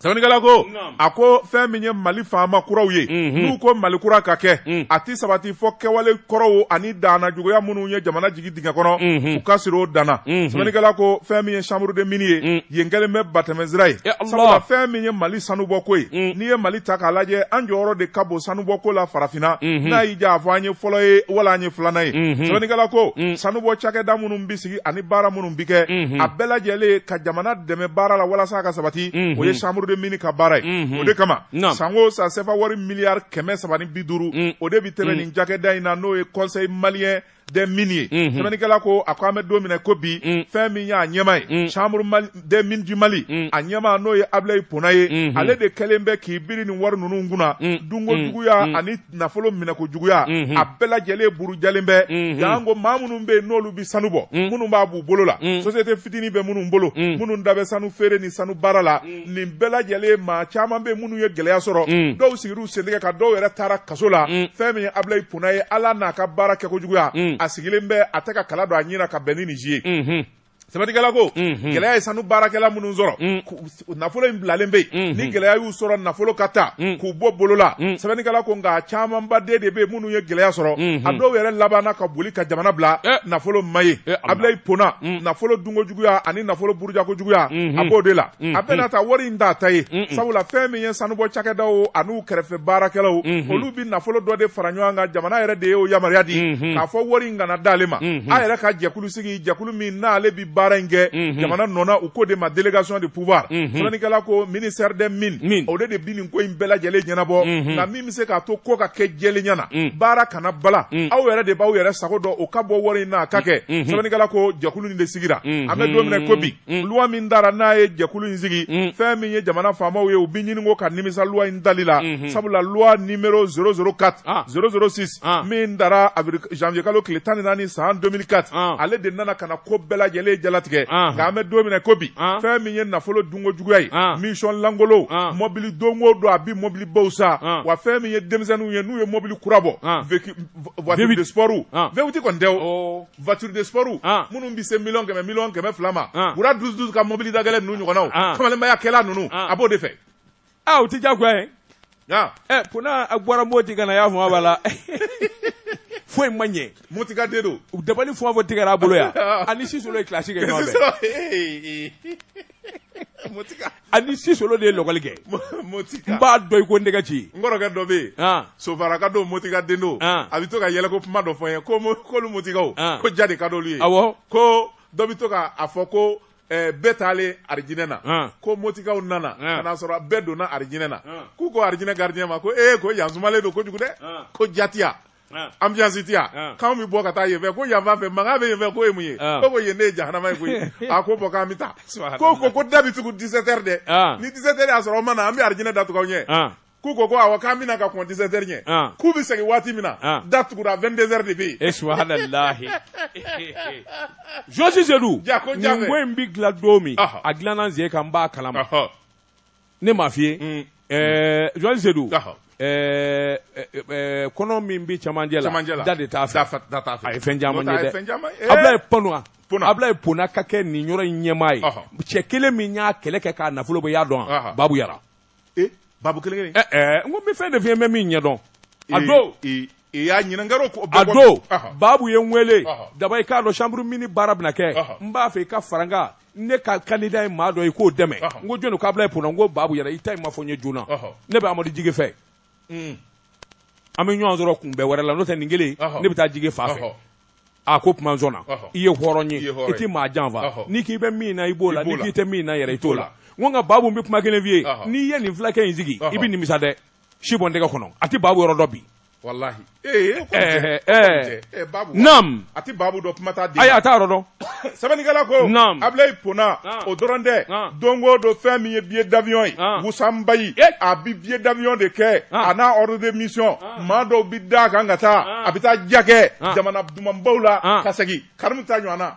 Sɛbɛnnikɛla ko a ko fɛn min ye mali faama kuraw ye n'u ko mali kura ka kɛ a tɛ sabati fɔ kɛwale kɔrɔw ani dannajuguya minnu ye jamana jigin dingɛ kɔnɔ u ka sir'u dan na sɛbɛnnikɛla ko fɛn min ye chambre des mines ye yen kɛlen bɛ batɛmɛsira ye sabula fɛn min ye mali sanubɔko ye n'i ye mali ta k'a lajɛ an jɔyɔrɔ de ka bon sanubɔko la farafinna n'a y'i diya a fɔ an ye fɔlɔ ye wala an ye filanan ye sɛbɛnnikɛla ko sanubɔ cakɛda minnu bɛ ani baara minnu bɛ kɛ a bɛɛ lajɛlen ka jamana dɛmɛ baara la walasa ka sabati o ye chambre des mines ka baara ye o de kama san o san sefa wari miliyari kɛmɛ saba ni bi duuru o de bɛ tɛmɛ nin cakɛda in na n'o ye conseil malien des mines ye sɛbɛnnikɛla ko a ko an bɛ don min n'i ko bi fɛn min y'a ɲɛmaa ye des mines du Mali mm. a ɲɛmaa n'o ye Ablaye Pona ye mm -hmm. ale de kɛlen bɛ k'i biri nin wari ninnu kunna mm. mm. dunko juguya mm. ani nafolo minɛko juguya mm -hmm. a bɛɛ lajɛlen burujalen bɛ mm -hmm. janko maa minnu bɛ yen n'olu bɛ sanu bɔ mm. minnu b'a b'u bolo la mm. société fitini bɛ minnu bolo mm. minnu da bɛ sanu feere ni sanu baara la mm. nin bɛɛ lajɛlen maa caman bɛ minnu ye gɛlɛya sɔrɔ mm. dɔw sigir'u sentɛgɛ kan dɔw yɛrɛ taara kaso la mm. fɛn min ye Ablaye Pona ye ale n'a ka baara kɛko juguya mm. a sigilen bɛ a tɛ ka kala don a ɲin na ka bɛn ni nin si ye mm -hmm. sɛbɛnnikɛla ko gɛlɛya ye sanu baarakɛla minnu sɔrɔ nafolo in bilalen bɛ yen ni gɛlɛya y'u sɔrɔ nafolo ka taa k'u bɔ bolo la sɛbɛnnikɛla ko nka camanba de bɛ yen minnu ye gɛlɛya sɔrɔ a dɔw yɛrɛ labanna ka boli ka jamana bila nafolo ma ye Ablaye Pona nafolo dunko juguya ani nafolo burujako juguya a b'o de la a bɛɛ n'a ta wari in t'a ta ye sabula fɛn min ye sanubɔ cakɛdaw an'u kɛrɛfɛ baarakɛlaw olu bɛ nafolo dɔ de fara ɲɔgɔn kan jamana yɛrɛ de ye o yamaruya di k'a fɔ wari in kana d'ale ma a yɛrɛ ka jɛkulu sigi jɛkulu min n'ale bi baara in kɛ mhm. jamana nɔna u k'o de ma délégation de pouvoir mhm. sɛbɛnni kɛla ko ministère des mines o de de bi nin ko in bɛɛ lajɛlen ɲɛnabɔ mhm. nka min bɛ se k'a to ko ka kɛ jɛlenya na baara kana bala aw yɛrɛ de b'aw yɛrɛ sago dɔn o ka bɔ wari in na a ka kɛ sɛbɛnni kɛla ko jɛkulu nin de sigira an bɛ don min na ko bi Mm. loi min dara n'a ye jɛkulu in sigi mm. fɛn min ye jamana faamaw ye u bi ɲini ko ka nimisa loi in dali la mm-hmm. sabula loi numéro 004 ah. 006 ah. min dara janvier kalo tile tan ni naani san 2004 ah. ale de nana ka na ko bɛɛ lajɛlen jalatigɛ ah. nka an bɛ don min na ko bi ah. fɛn min ye nafolo dunko juguya ye ah. mission lankolonw ah. mɔbili don o don a bi mɔbilibaw san ah. wa fɛn min ye denmisɛnninw ye n'u ye mɔbili kura bɔ ah. voiture de sport ah. V8 kɔni tɛ o oh. voiture de sport ah. minnu bɛ se miliyɔn kɛmɛ miliyɔn kɛmɛ fila ma ah. wura dusu dusu ka mobili dagɛlɛn ninnu ɲɔgɔnnaw ah. kamalenbaya kɛla ninnu a b'o de fɛ aa o tɛ diyagoya ye ɛ Pona a bɔra Moti ka na y'a fɔ a b'a la foyi ma ɲɛ motika den don u dabali fɔ fɔ tigɛra a bolo yan a ni sisolo ye kilasi kɛ ɲɔgɔn fɛ motika A ni sisolo de ye lɔkɔli kɛ motika n b'a dɔn i ko n tɛgɛ ci n kɔrɔkɛ dɔ bɛ yen sofaraka don motika den don a bɛ to ka yɛlɛko kuma dɔ fɔ n ye ko k'olu motikaw ko ja de ka d'olu ye awɔ ko dɔ bɛ to k'a fɔ ko bɛɛ taalen alijinɛ na ko motikaw nana ka n'a sɔrɔ bɛɛ donna alijinɛ na k'u ko alijinɛ gardien ma ko ee ko yan sumalen don kojugu dɛ ko ja tɛ yan ambiance tɛ yan k'an bɛ bɔ ka taa yen fɛ ko yan fan fɛ mankan bɛ yen fɛ k'o ye mun ye ko ko yen ne ye jahanama ye koyi a ko bɔ k'an bɛ taa ko ko ko da bi tugu 17 heures dɛ ni 17 heures y'a sɔrɔ aw ma na an bɛ arijinɛ da tugu aw ɲɛ k'u ko ko awɔ k'an bɛna ka kɔn 17 heures ɲɛ k'u bɛ segin waati min na da tugura 22 heures de bɛ yen e su lahi jɔsi Seydou ko in bɛ dilan don min a dilanna n sen kan n b'a kalama ne m'a f'i ye mm. eh, Joël Seydou eh, eh, kɔnɔ min bɛ cɛmancɛ la da de t'a fɛ a ye fɛn caman ye dɛ Ablaye Pona ka kɛ nin yɔrɔ in ɲɛmaa ye cɛ kelen min y'a kɛlɛ kɛ k'a nafolo bɔ i y'a dɔn wa Babu Yara Babu kelen kelen n ko n bɛ fɛn de f'i ye n bɛ min ɲɛdɔn a don i y'a ɲininkaro ko a don Babu ye n wele Daba i k'a dɔn chambre mines baara bɛna kɛ n b'a fɛ i ka fara n kan ne ka candidat ye maa dɔ ye k'o dɛmɛ n ko jɔnni k'Ablaye Pona n ko Babu Yara i ta in ma fɔ n ye joona ne bɛ Amadu Jige fɛ mm. an bɛ ɲɔgɔn sɔrɔ kunbɛn wɛrɛ la n'o tɛ nin kelen ne bɛ taa Jige fan fɛ a ko kuma na i ye hɔrɔn ye i tɛ maa janfa n'i k'i bɛ min na i b'o la n'i k'i tɛ min na yɛrɛ i t'o la n ko nka Babu n bɛ kuma kelen f'i ye n'i ye nin fulakɛ in sigi i bɛ nimisa dɛ si bɔ n tɛgɛ kɔnɔ a tɛ Babu yɔrɔ dɔn bi Walahi ee naamu a tɛ Babu dɔn kuma t'a di ayi a t'a yɔrɔ dɔn sɛbɛnnikɛla ko Abulayi Pona o dɔrɔn tɛ don o don fɛn min ye billet d'avion ye wusanbayi a bɛ billet d'avion de kɛ a n'a ordre de mission maa dɔw bɛ da a kan ka taa a bɛ taa ja kɛ jamana dumanbaw la ka segin Karimu ta ɲɔgɔn na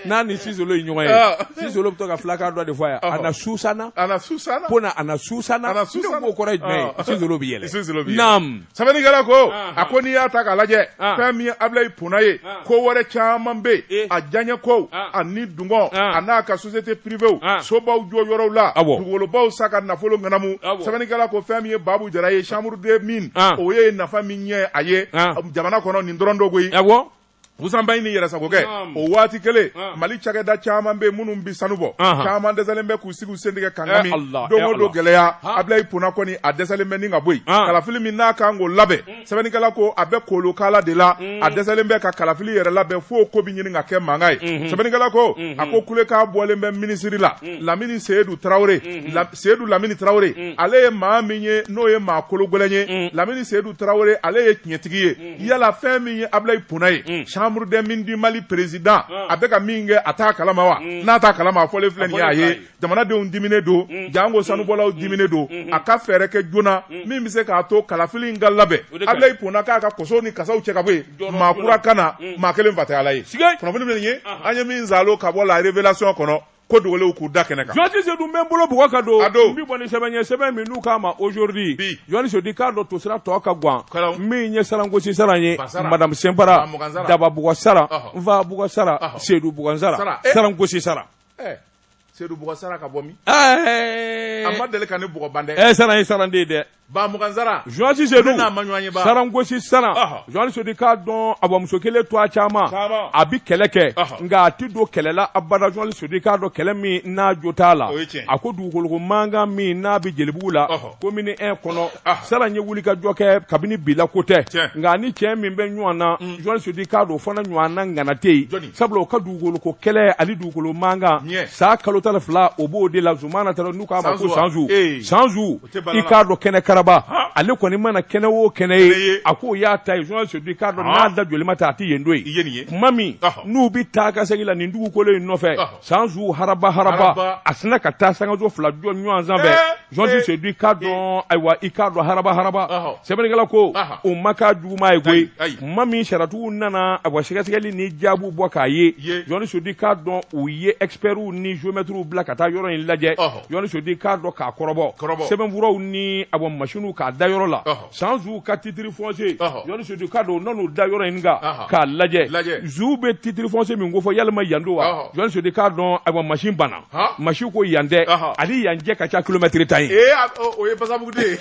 n'a ni sisolo ye ɲɔgɔn ye ah. sisolo bɛ to ka filakan dɔ de fɔ yan ana susana ana susana Pona ana susana ana susana ko kɔrɔ ye jumɛn ye ah. sisolo bɛ yɛlɛ sisolo bɛ yɛlɛ naam sɛbɛnnikɛla ko ah. a ko n'i y'a ta k'a lajɛ fɛn min ye Abulayi Pona ye ko wɛrɛ caman bɛ yen a diyaɲɛ kow ani dungɔ a n'a ka société privéw sobaw jɔ yɔrɔw la dugukolobaw san ka nafolo ŋanamu sɛbɛnnikɛla ko fɛn min ye Babu Jara ye chambre des mines o ye nafa min ɲɛ a ye jamana kɔnɔ nin dɔrɔn don koyi wusanbayi ni yɛrɛsagokɛ o waati kelen mali cakɛda caman bɛ minnu bɛ sanu bɔ caman dɛsɛlen bɛ k'u sigi u sen tigɛ kanga min don don gɛlɛya Abulayi Pona kɔni a dɛsɛlen bɛ ni ka bɔ yen kalafili min n'a kan k'o labɛn mm. sɛbɛnnikɛla ko a bɛ kolokala de la mm. a dɛsɛlen bɛ ka kalafili yɛrɛ labɛn fo ko bɛ ɲini ka kɛ mankan ye mm-hmm. sɛbɛnnikɛla ko a mm-hmm. ko kulekan bɔlen bɛ minisiri la mm. lamini seyidu tarawele seyidu lamini tarawele mm. ale ye maa min ye n'o ye maa kologɛlɛn ye mm. lamini seyidu tarawele ale ye tiɲɛtigi ye mm. yala fɛn min ye Abulayi Pona ye mm. chambre des mines du Mali président mm. a bɛ ka min kɛ a t'a kalama wa mm. n'a t'a kalama a fɔlen filɛ nin ye a ye jamanadenw diminen don mm. jango sanubɔlaw mm. dimine don mm. a ka fɛɛrɛ kɛ joona mm. min bɛ se k'a to kalafili in ka labɛn Abulayi Pona k'a ka kosow ni kasaw cɛ ka bɔ yen maa kura ka na mm. maa kelen fa tɛ ala ye kunnafoni bɛ nin ye an ye min zalo ka bɔ la révélation kɔnɔ ko dogolenw k'u da kɛnɛ kan. Journaliste Sedu n bɛ n bolo bugɔ ka don. A don. N bɛ bɔ ni sɛbɛn ye sɛbɛn min n'u k'a ma aujourd'hui. Bi. Journaliste Sedu i k'a dɔn tosira tɔ ka gwan. Kalaw. Min ye sarangosi Saran ye. Ba Saran. Madame Sɛnpara. Bamugan Saran. Daba bugɔ Saran. Ɔhɔ. Nfa bugɔ Saran. Ɔhɔ. Sedu bugɔ Saran. Saran. Eh. Sarangosi Saran. Ɛɛ Sedu bugɔ Saran ka bɔ min? Ɛɛ. A ma deli ka ne bugɔ ban dɛ. Ɛɛ Saran ye Saran de ye dɛ. Bamugan Saran journaliste Sedu n'a ma ɲɔgɔn ye sarangosi Saran journaliste Sedu i k'a dɔn a bamuso kelen to a caman a bɛ kɛlɛ kɛ nka a tɛ don kɛlɛ la abada journaliste Sedu i k'a dɔn kɛlɛ min n'a jo t'a la a ko dugukolo mankan min n'a bɛ Jelibugu la commune un kɔnɔ Saran ye wuli ka jɔ kɛ kabini bila ko tɛ nka ni cɛ min bɛ ɲɔgɔn na journaliste Sedu i k'a dɔn o fana ɲɔgɔn na ŋana tɛ yen sabula o ka dugukoloko kɛlɛ ani dugukolo mankan san kalo tan fila o b'o de la zumana taara n'u k'a ma ko Sanzu Sanzu i k'a dɔn kɛnɛ karaba ale kɔni mana kɛnɛ o kɛnɛ ye a k'o y'a ta ye journaliste Sedu i k'a dɔn n'a da joli ma taa a tɛ yen don ye tuma min n'u bɛ taa ka segin la nin dugukolo in nɔfɛ Sanzu haraba haraba a sinna ka taa sankaso fila jɔ ɲɔgɔn sanfɛ journaliste Sedu i k'a dɔn ayiwa i k'a dɔn haraba haraba sɛbɛnnikɛla ko o ma k'a juguman ye koyi tuma min sariyatigiw nana ayiwa sɛgɛsɛgɛli ni jaabiw bɔ k'a ye journaliste Sedu i k'a dɔn u ye experts ni géomètres bila ka taa yɔrɔ in lajɛ. Jɔn Sedu k'a dɔn k'a kɔrɔbɔ, kɔrɔbɔ, sɛbɛnfuraw ni ayiwa machine k'a da yɔrɔ la, ɔhɔ, San Zu ka titre foncier, ɔhɔ, Jɔn Sedu k'a dɔn u nan'o da yɔrɔ in kan, anhan, k'a lajɛ, lajɛ, Zu bɛ titre foncier min kofɔ yalima yan don wa, ɔhɔ, Jɔn Sedu k'a dɔn ayiwa machine banna, han, machine ko yan tɛ, ɔhɔ, a ni yan cɛ ka ca kilomɛtɛrɛ tan ye, ee o ye Basabugu de ye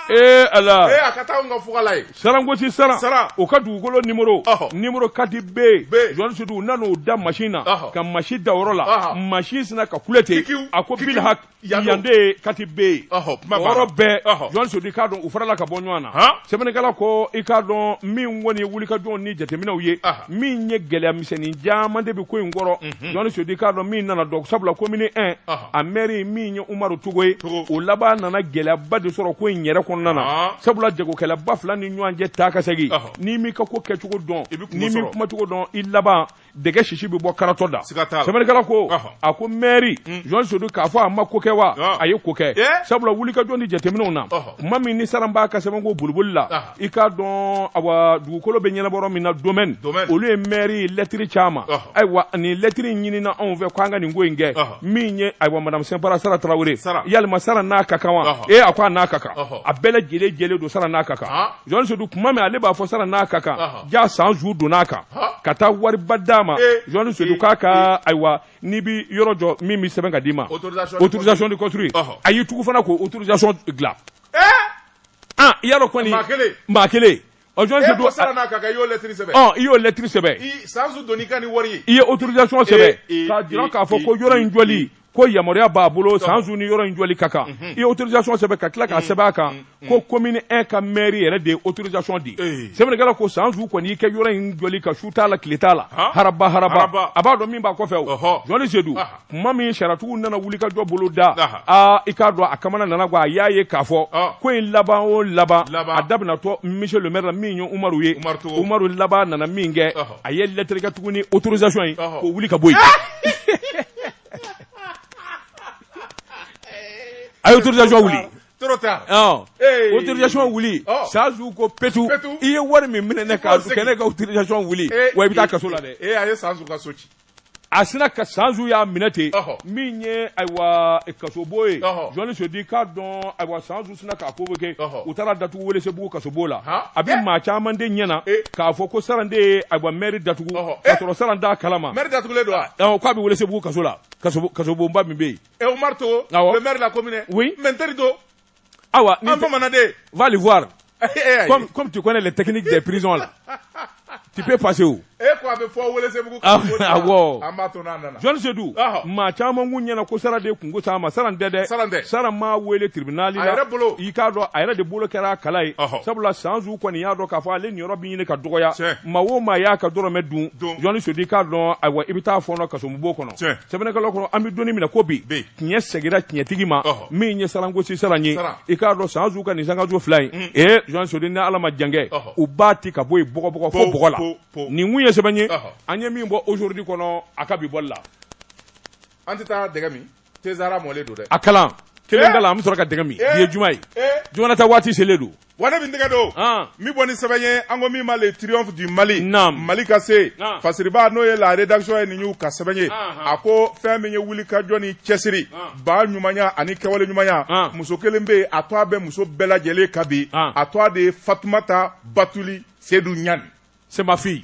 Ee ala ee a ka taa ka fugula ye sarankosi Saran Saran o ka dugukolo numéro numéro quatre B Jɔn Sedu u nan'o da machine na ka machine da yɔrɔ la machine sina ka kule ten a ko bilhaki yan de quatre B yɔrɔ bɛɛ Jɔn Sedu k'a dɔn u farala ka bɔ ɲɔgɔn na sɛbɛnnikɛla ko i k'a dɔn min kɔni wulikajɔ ni jateminɛw ye min ye gɛlɛyamisɛnnin caman de bɛ ko in kɔrɔ Jɔn Sedu k'a dɔn min nana dɔn sabula commune 1 a mɛri min ye Umaru Togo ye o laban nana gɛlɛyaba de sɔrɔ ko in yɛrɛ kɔnɔna na sabula jagokɛlaba fila ni ɲɔgɔn cɛ taa ka segin n'i m'i ka ko kɛcogo dɔn n'i m'i kumacogo dɔn i laban dɛgɛ sisi bɛ bɔ karatɔ da sɛbɛnnikɛla ko a ko mɛri Jɔn Sedu k'a fɔ a ma ko kɛ wa a ye ko kɛ sabula wulikajɔ ni jateminɛw na kuma min ni Saran b'a ka sɛbɛnko boliboli la i k'a dɔn awa dugukolo bɛ ɲɛnabɔ min na domaine olu ye maire lɛtiri ci a ma ayiwa nin lɛtiri ɲinina anw fɛ k'an ka nin ko in kɛ min ye ayiwa madame Sinpara Saran Tarawele yalima Saran n'a ka kan wa ee a ko a n'a ka kan a bɛɛ lajɛlen jɛlen don Saran n'a ka kan Jɔn Sedu kuma min ale b'a fɔ Saran n'a ka kan jaa San Zu donna a kan ka taa wariba d'a ma Jɔn Sedu k'a ka ayiwa n'i bɛ yɔrɔ jɔ min bɛ sɛbɛn ka d'i ma autorisation de construire a y'i tugu fana k'o autorisation dilan. ah i y'a dɔn kɔni maa kelen maa kelen ɔ Jɔn Sedu e Saran n'a ka kan i y'o lɛtiri sɛbɛn ɔ i y'o lɛtiri sɛbɛn i sanzu donn'i kan ni wari ye i ye autorisation sɛbɛn k'a jira k'a fɔ ko yɔrɔ in jɔli ko yamaruya b'a bolo san zu ni yɔrɔ in jɔli ka kan i ye autorisation sɛbɛn ka tila k'a sɛbɛn a kan ko commune 1 ka maire yɛrɛ de ye autorisation di sɛbɛnnikɛla ko san zu kɔni y'i kɛ yɔrɔ in jɔli kan su t'a la tile t'a la haraba haraba a b'a dɔn min b'a kɔfɛ o Jɔn Sedu kuma min sariyatigiw nana wulikajɔ boloda aa i k'a dɔn a kamana nana gwan a y'a ye k'a fɔ ko in laban o laban a daminɛtɔ monsieur le maire la min ye umaru ye umaru laban nana min kɛ a ye lettre kɛ tuguni autorisation in k'o wuli ka bɔ yen a ye autorisation wuli trop tard ɔn Hey. autorisation wuli Ɔ. San Zu ko petu Petu. i ye wari min minɛ ne ka K'o segin. kɛ ne ka autorisation wuli wa i bɛ taa kaso la dɛ ee a ye San Zu ka so ci a sina ka sanzu y'a minɛ ten min ye ayiwa kasobo ye Jɔn Sedu k'a dɔn ayiwa sanzu sina k'a convoquer u taar'a datugu Welesebugu kasobo la a bɛ maa caman de ɲɛ na k'a fɔ ko Saran de ye ayiwa mɛri datugu k'a sɔrɔ Saran t'a kalama mɛri datugulen don wa k'a bɛ welesebugu kaso la kasobonba min bɛ yen ɛ Oumar Togo maire de la commune oui mɛ n teri to Awa ni bamanan de va le voir comme comme tu connais les techniques des prisons là tu peux passer où e ko a bɛ fɔ Welesebugu ah, awɔ an b'a to n'a nana John Sedu maa caman kun ɲɛna ko Saran de kunko s'a ma Saran tɛ dɛ Saran tɛ Saran m'a wele tribunal la a yɛrɛ bolo i k'a dɔn a yɛrɛ de bolo kɛra a kala ye sabula Sanzu kɔni y'a dɔn k'a fɔ ale niyɔrɔ bɛ ɲini ka dɔgɔya maa o maa y'a ka dɔrɔmɛ dun John Sedu i k'a dɔn ayiwa i bɛ taa fɔɔnɔ kasomubo kɔnɔ sɛbɛnnikɛlaw kɔnɔ an bɛ donni min na ko bi tiɲɛ segira tiɲɛtigi ma min ye Sarangosi Saran ye i k'a dɔn Sanzu ka nin sankanso fila in mm. ee John Sedu ni ala ma jankɛ u b'a ti ka bɔ yen bɔgɔbɔgɔ fo bɔgɔ la nin kun ye sɛbɛn ye an ye min bɔ aujourd'hui kɔnɔ a ka bi bɔli la an tɛ taa dɛgɛ min tezara mɔlen don dɛ a kalan kelen da la an bɛ sɔrɔ ka dɛgɛ min bi ye juma ye juma na taa waati selen don Wa ne bɛ n tɛgɛ don min bɔ ni sɛbɛn ye an ko min ma le triomphe du mali mali ka se fasiriba n'o ye la rédaction ye nin y'u ka sɛbɛn ye a ko fɛn min ye wulikajɔ ni cɛsiri ba ɲumanya ani kɛwale ɲumanya muso kelen bɛ yen a tɔgɔ bɛ muso bɛɛ lajɛlen ka bi a tɔgɔ de ye fatumata batuli sedu ɲani c'est ma fille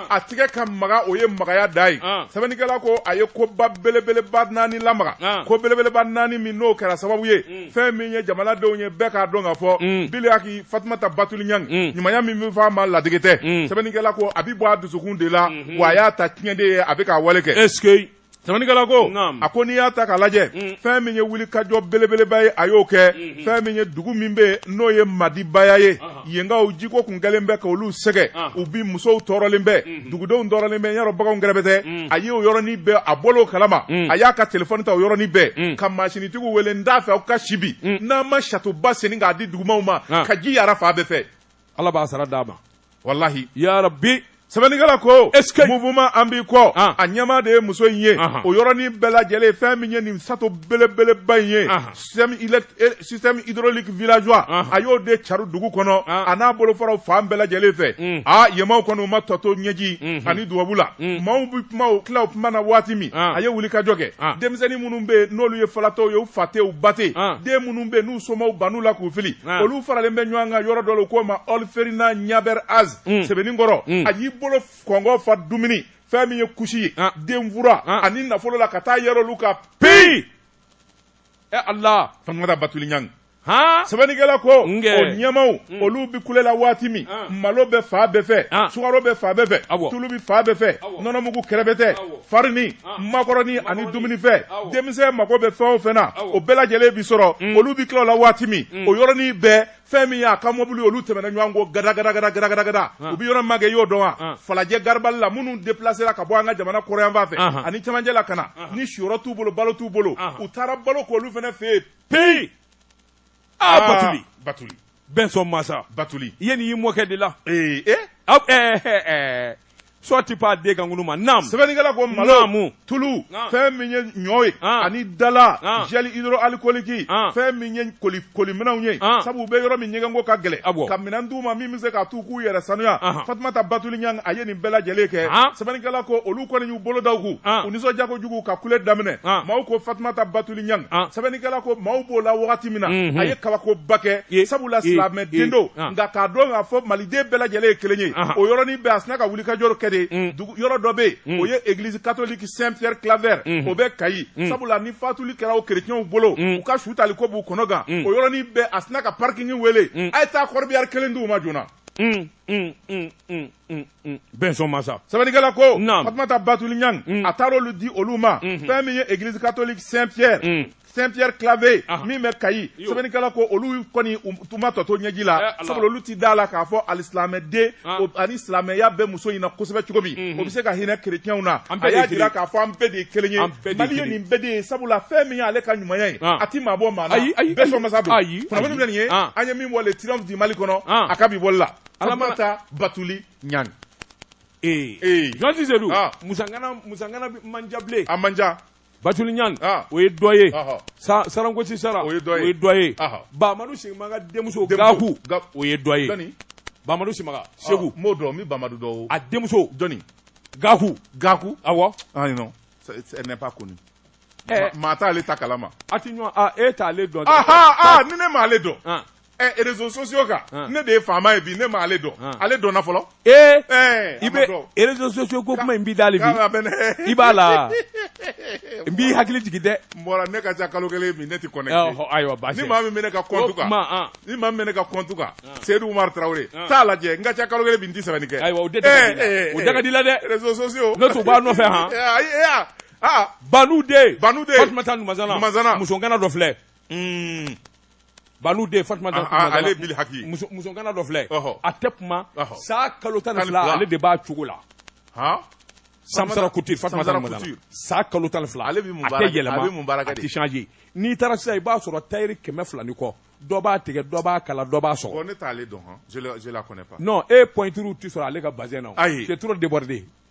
a tigɛ ka maga o ye magaya da ye sɛbɛnnikɛla ko a ye koba belebeleba naani lamaga ko belebeleba naani min n'o kɛra sababu ye mm. fɛn min ye jamanadenw ye bɛɛ k'a dɔn k'a fɔ mm. biliyaki fatumata batuli ɲa mm. ɲumanya min bɛ fɔ a ma ladege tɛ sɛbɛnnikɛla ko a bɛ bɔ a dusukun de la mm-hmm. wa a y'a ta tiɲɛ de ye a bɛ k'a wale kɛ Sɛbɛnnikɛla ko, naamu, a ko n'i y'a ta k'a lajɛ, un, fɛn min ye wulikajɔ belebeleba ye a y'o kɛ, unhun, fɛn min ye dugu min bɛ yen n'o ye Madibaya ye, ɔhɔ, yenkaw jiko tun kɛlen bɛ k'olu sɛgɛn, ɔhɔ, u bi musow tɔɔrɔlen bɛ, unhun, dugudenw tɔɔrɔlen bɛ, n y'a dɔn baganw kɛrɛbɛtɛ, un, a ye o yɔrɔnin bɛɛ a bɔra o kalama, un, a y'a ka telefɔni ta o yɔrɔnin bɛɛ, un, ka mansinitigiw wele n t'a fɛ aw ka si bi, un, n'an ma satoba senni k'a di dugumaaw ma, an, ka ji yaara fan bɛɛ fɛ. Ala b'a sara d'a ma walahi ya rabbi sɛbɛnnikɛla ko mouvement an b'i kɔ ah. a ɲɛmaa de ye muso in ye o yɔrɔnin bɛɛ lajɛlen fɛn min ye nin sato belebeleba in ye système hydraulique villageois a y'o de cari dugu kɔnɔ a n'a bolofaraw fan bɛɛ lajɛlen fɛ mm. a yenmaaw kɔni u ma tɔ to ɲɛji mm-hmm. ani dubabu la mm. maaw bɛ kuma u tila u kuma na waati min a ye wulikajɔ kɛ denmisɛnnin minnu bɛ yen n'olu ye falatɔw ye u fa tɛ u ba tɛ den minnu bɛ yen somaw ban u la k'u fili ah. olu faralen bɛ ɲɔgɔn kan yɔrɔ dɔ la u k'o ma ɔlferina ɲabɛr az mm. Sebeninkɔrɔ mm. a y'i bolo kɔngɔ fa dumuni fɛn min ye kusi ye ah. denfura ah. ani nafolo la ka taa yɛrɛ olu ka peyi ɛ ala fatumata batuli ɲangi sɛbɛnnikɛla ko o ɲɛmaaw mm. olu bɛ kule la waati min ah. malo bɛ fan bɛɛ fɛ ah. sukaro bɛ fan bɛɛ fɛ tulu bɛ fan bɛɛ fɛ nɔnɔmugu kɛrɛbɛtɛ farini makɔrɔni ani dumunifɛn denmisɛn mago bɛ fɛn o fɛn na o bɛɛ lajɛlen bi sɔrɔ mm. olu bi tila o la waati min mm. o yɔrɔnin bɛɛ fɛn min y'a ka mɔbili olu tɛmɛna ɲɔgɔn kɔ gadagadagadagadagada u bi yɔrɔ magɛn i y'o dɔn wa falajɛ garibali la minnu depilasera ka bɔ an ka jamana kɔrɔyanfan fɛ ani cɛmancɛ la ka na ni siyɔrɔ t'u bolo balo t'u bolo u taara balo k'olu fana fɛ yen peyi aa batuli batuli bɛnsɔn masa batuli i ye nin y'i mɔkɛ de la ee e aw ɛɛ ɛɛ sɔ ti pa den kan kunu ma naam sɛbɛnnikɛla ko malo naamu tulu Naam. fɛn min ye ɲɔ ye Naam. ani dala Naam. gel hydroalcoolique Naam. fɛn min ye koli koliminɛnw ye Naam. sabu u bɛ yɔrɔ min ɲɛgɛnko ka gɛlɛn Awɔ. ka minɛn d'u ma min bɛ se k'a t'u k'u yɛrɛ sanuya Ahan. fatumata batuli ɲang a ye nin bɛɛ lajɛlen kɛ Ahan. sɛbɛnnikɛla ko olu kɔni y'u bolo da u kun Ahan. u nisɔndiya kojugu ka kule daminɛ Ahan. maaw ko fatumata batuli ɲang ah. sɛbɛnnikɛla ko maaw b'o la wagati min na mhm. a ye kabakoba kɛ sabula silamɛ den don ah. nka k'a dɔn k'a fɔ maliden bɛɛ lajɛlen ye kelen ye ah. o yɔrɔnin bɛɛ a sina ka wulikajɔ kɛ de mm. yɔrɔ dɔ bɛ mm. o ye église catholique saint pierre claver mm. o bɛ kayi sabula ni fatuli kɛra o kerecɛnw bolo u ka su tali ko b'u kɔnɔ gan o yɔrɔnin bɛɛ a sina ka parking wele a ye taa corbillard kelen di u ma joona Mm. bɛnsɔn masa sɛbɛnnikɛla ko fatumata batuli ɲang mm. a taara olu di olu ma mm-hmm. fɛn min ye église catholique saint pierre mm. saint pierre claver ah. min bɛ kayi sɛbɛnnikɛla ko olu kɔni u ma tɔ to ɲɛji la eh, sabula olu tɛ da la k'a fɔ alisilamɛden ah. ani silamɛya bɛ muso in na kosɛbɛ cogo min mm-hmm. o bɛ se ka hinɛ kerecɛnw na a y'a jira k'a fɔ an bɛɛ de ye kelen ye mali ye nin bɛɛ de ye sabula fɛn min y'ale ka ɲumanya ye ah. a tɛ maa bɔ maa na bɛnsɔn masa don kunnafoni filɛ nin ye an ye min bɔ le triomphe du mali kɔnɔ a ka bi bɔli la fatumata batuli ɲang ee ee jɔn tɛ se dun ah. muso ŋana muso ŋana bɛ manja bilen a manja batuli ɲang ah. o ye dɔ ye sa sarankosi sara o ye dɔ ye o ye dɔ ye bamadu simaga denmuso gaku o ye dɔ ye bamadu simaga segu ah, m'o dɔn n bɛ bamadu dɔn a denmuso jɔni gaku gaku awɔ ayi non ce n'est pas connu eh. maa t'ale ta kalama a ti ɲɔgɔn e t'ale dɔn ni ne m'ale dɔn réseaux sociaux kan ne de ye faama ye bi ne ma ale dɔn ale dɔn fɔlɔ ee i bɛ réseaux sociaux ko kuma in b'i da la bi i b'a la n b'i hakili jigin dɛ n bɔra ne ka ca kalo kelen ne tɛ connecté ayiwa ni maa min bɛ ne ka compte kan ni maa min bɛ ne ka compte kan seyidu tarawele t'a lajɛ n ka ca kalo kelen n tɛ sɛbɛnni kɛ ayiwa o da ka di la dɛ réseaux sociaux ne tun b'a nɔfɛ han banu den banu den fatumata numazana muso ŋana dɔ filɛ Banu den Fatumata Ɔnhɔn, Numazana, ale ye Bili Haki ye. muso- muso ŋana dɔ filɛ Ɔhɔ. a tɛ kuma Ɔhɔ. san kalo tan ni Tan ni fila fila. ale de b'a cogo la Han? Samsara Couture Fatumata Samsara Numazana Couture. san kalo tan ni fila Ale bɛ mun a baara tɛ kɛ? yɛlɛma A bɛ mun baara kɛ a de? tɛ changer n'i taara sisan i b'a sɔrɔ tailleur kɛmɛ fila ni kɔ dɔ b'a tigɛ dɔ b'a kala dɔ b'a sɔgɔ Bon, ne t'ale dɔn, han. Je le- je la connais pas. non e pointure tɛ sɔrɔ ale ka bazin na o. Ayi. c'est trop débordé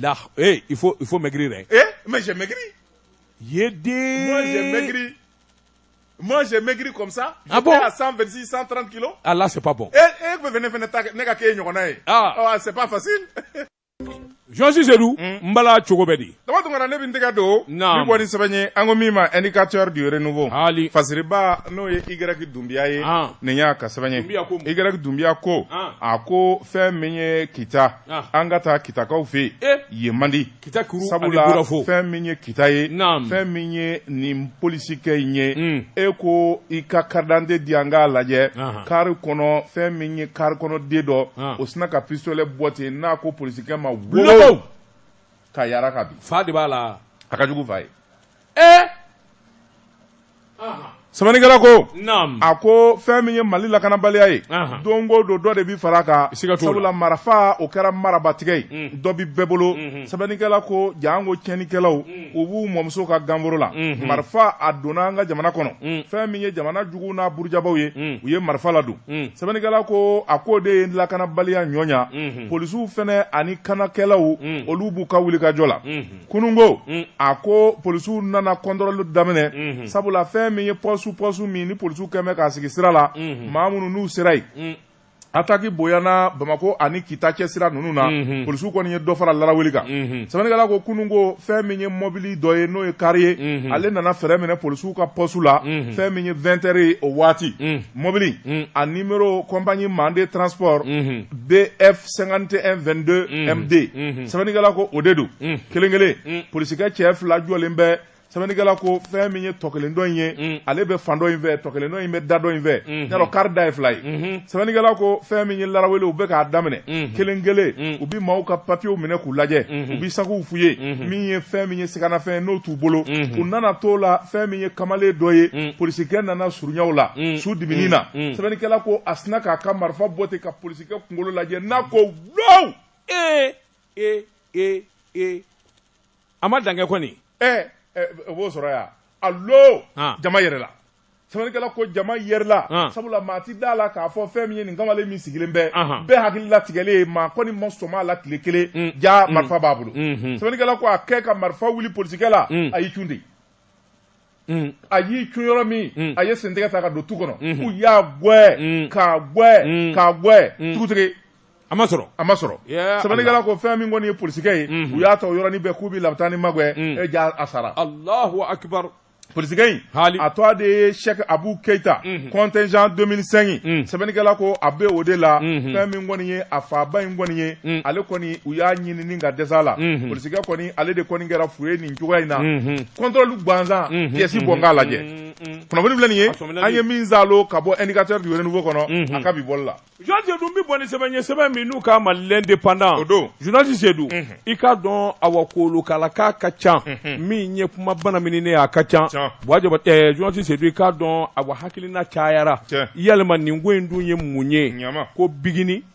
Là ee il faut il faut maigrir ee mais j'ai maigri ye den moi j'ai maigri moi j'ai maigri comme ça ah bon? j'étais à 126 130 kilos ah là c'est pas bon e e tun bɛ ne fana ta kɛ- ne ka k'e ɲɔgɔnna ye Ah. Ɔ, c'est pas facile jɔnsi sedu n bala cogo bɛ di dama tun kana ne bɛ n tɛgɛ don Naam. bi bɔ ni sɛbɛn ye an ko min ma indicateur du renouveau Hali. fasiriba n'o ye y dunbiya ye Ah. nin y'a ka sɛbɛn ye Dunbiya ko mun? y dunbiya ko Ah. a ko fɛn min ye kita an ka taa kitakaw fɛ yen man di kita sabula fɛn min ye kita ye fɛn min ye nin polisikɛ in ye mm. e ko i ka karidante di an k'a lajɛ kari kɔnɔ fɛn min ye kari kɔnɔ den dɔ o sina ka pisitolɛ bɔ ten n'a ko polisikɛ ma wow k'a yira ko bi fa de b'a la a ka jugu fa ye ee sɛbɛnnikɛla ko a ko fɛn min ye mali lakanabaliya ye don o don dɔ de bɛ fara kan sabula marafa o kɛra marabatigɛ ye mm. dɔ bɛ bɛɛ bolo mm-hmm. sɛbɛnnikɛla ko janko tiɲɛnikɛlaw mm. u b'u mɔmuso ka ganforo la mm-hmm. marifa a donna an ka jamana kɔnɔ mm. fɛn min ye jamana jugu n'a burujabaw ye u ye marifa ladon sɛbɛnnikɛla ko a ko de ye lakanabaliya ɲɔɲa mm-hmm. polisiw fɛnɛ ani kanakɛlaw olu b'u ka wulikajɔ la kununko mm. a ko polisiw nana kɔntɔrɔli daminɛ mm-hmm. sabula fɛn min ye pɔsu pɔsu min ni polisiw kɛn bɛ k'a sigi sira la mm-hmm. maa minnu n'u sera yen mm. ataki bonyana bamako ani kita cɛ sira ninnu na mm-hmm. polisiw kɔni ye dɔ fara laraweli kan sɛbɛnnikɛla ko kununko fɛn min ye mɔbili dɔ ye n'o ye kari ye ale nana fɛrɛn minɛ polisiw ka pɔsu la fɛn min ye 20 heures ye o waati mɔbili a nimero compagnie mande transport bf 5122 md sɛbɛnnikɛla ko o de don kelen kelen polisikɛ cɛ fila jɔlen bɛ sɛbɛnnikɛla ko fɛn min ye tɔ kelen dɔ in ye ale bɛ fan dɔ in fɛ tɔ kelen dɔ in bɛ da dɔ in fɛ kari da ye fila ye sɛbɛnnikɛla ko fɛn min ye laraweli u bɛ k'a daminɛ kelen kelen u bɛ maaw ka papiyew minɛ k'u lajɛ u bɛ sakiw fuye min ye fɛn min ye siganafɛn n'o t'u bolo u nana to la fɛn min ye kamalen dɔ ye polisikɛ nana surunya a la su dibinin na sɛbɛnnikɛla ko a sina k'a ka marifa bɔ ten ka ka kunkolo lajɛ n'a ko wow ee ee ee ee a ma dankɛ kɔni ɛɛ o b'o sɔrɔ yan alo jama yɛrɛla sɛbɛnnikɛla ko jama yɛrɛla ah. sabula maa ti da la k'a fɔ fɛn min ye nin kamalen min sigilen bɛ bɛɛ hakili latigɛlen ye maa kɔni ma sɔm'a la tile kelen mm. ja mm. marifa b'a bolo mm-hmm. sɛbɛnnikɛla ko a kɛ ka marifa wuli polisikɛ la mm. a y'i cun de Mm. a y'i cun yɔrɔ min mm. a ye sentigɛ ta ka don tu kɔnɔ mm-hmm. u y'a gwɛ mm. k'a gwɛ mm. k'a gwɛ mm. tugutigi a ma sɔrɔ a ma sɔrɔ sɛbɛnnikɛla ko fɛn min kɔni ye polisikɛ ye mm-hmm. u y'a ta o yɔrɔnin bɛɛ k'u bɛ labutani magwɛ e jaa a sara alahu akibaru polisikɛ in a tɔ de ye sɛk abu keyita mm-hmm. contingent 2005 sɛbɛnnikɛla ko a bɛ o de la fɛn min kɔni ye a faba in kɔni ye ale kɔni u y'a ɲinini ka dɛsɛ la polisikɛ kɔni ale de kɔni kɛra fu ye nin cogoya in na contrôle gansan pièce bɔ n k'a lajɛ kunnafoni filɛ nin ye an ye min zalo ka bɔ indicateur du renouveau kɔnɔ a ka bi bɔ la journaliste seydou bɛ bɔ ni sɛbɛn ye sɛbɛn min n'u k'a ma l'indépendant o don journaliste seydou i k'a dɔn awa kolokala k'a ka ca min ye kuma bana min ne a ka ca journaliste seydou i k'a dɔn awa hakilina cayara yalima nin ko in dun ye mun ye ko bigini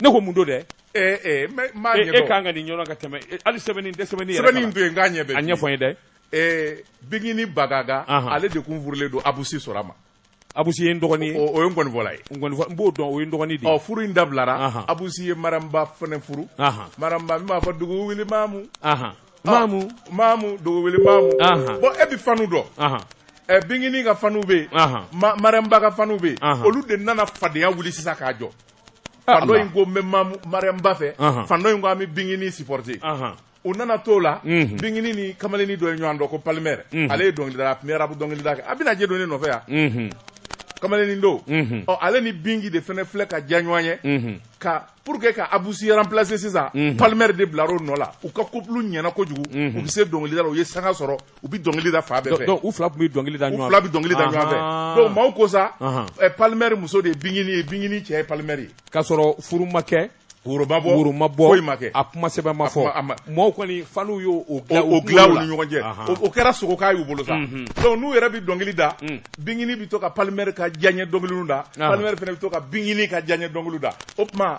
ne ko mun don dɛ e kan ka nin ɲɔgɔn ka tɛmɛ hali sɛbɛnni tɛ sɛbɛnni sɛbɛnni to yen k'a ɲɛ bɛ a ɲɛfɔ n ye dɛ ee bigini bagaga ale de kun furulen don abusi sora ma abusi ye n dɔgɔnin o ye nkɔnifɔla ye n b'o dɔn o ye n dɔgɔnin de ye furu in dabilara abusi ye mariyamuba fana furu mariyamuba min b'a fɔ dugu wuli mamu mamu mamu dugu wuli mamu bon e bɛ fanw dɔn ɛ bigini ka fanw bɛ yen mariyamuba ka fanw bɛ yen olu de nana fadenyaya wuli sisan k'a jɔ Ah, fan dɔ in ko n bɛ mariyamuba fɛ fan dɔ in ko an bɛ bigini supporter u nana t'o la mhm. bigini ni kamalenni dɔ ye ɲɔgɔn dɔn ko palmer mhm. ale ye dɔnkilidala a tun bɛ rap dɔnkilida kɛ a bɛna je don ne nɔfɛ yan mhm. kamalenni don ɔ ale ni bingi de fana filɛ ka diya ɲɔgɔn ye ka pour que ka abusi remplacer sisan palmer de bilar'o nɔ la u ka couple ɲɛna kojugu u bɛ se dɔnkilida la u ye sanga sɔrɔ u bɛ dɔnkili da fan bɛɛ fɛ u fila tun bɛ dɔnkili da ɲɔgɔn fila bɛ dɔnkili da ɲɔgɔn fɛ donc maaw ko sa palmer muso de ye bigini ye bigini cɛ ye palmer ye k'a sɔrɔ furu ma kɛ woro ma bɔ woro ma bɔ foyi ma kɛ a kuma sɛbɛn ma fɔ maaw kɔni fanw y'o o dilan o dilan u ni ɲɔgɔn cɛ o kɛra slogan y'u bolo sa donc n'u yɛrɛ bɛ dɔnkili da bigini bɛ to ka palmer ka diyaɲɛ dɔnkiliw da palmer fana bɛ to ka bigini ka diyaɲɛ dɔnkiliw da o tuma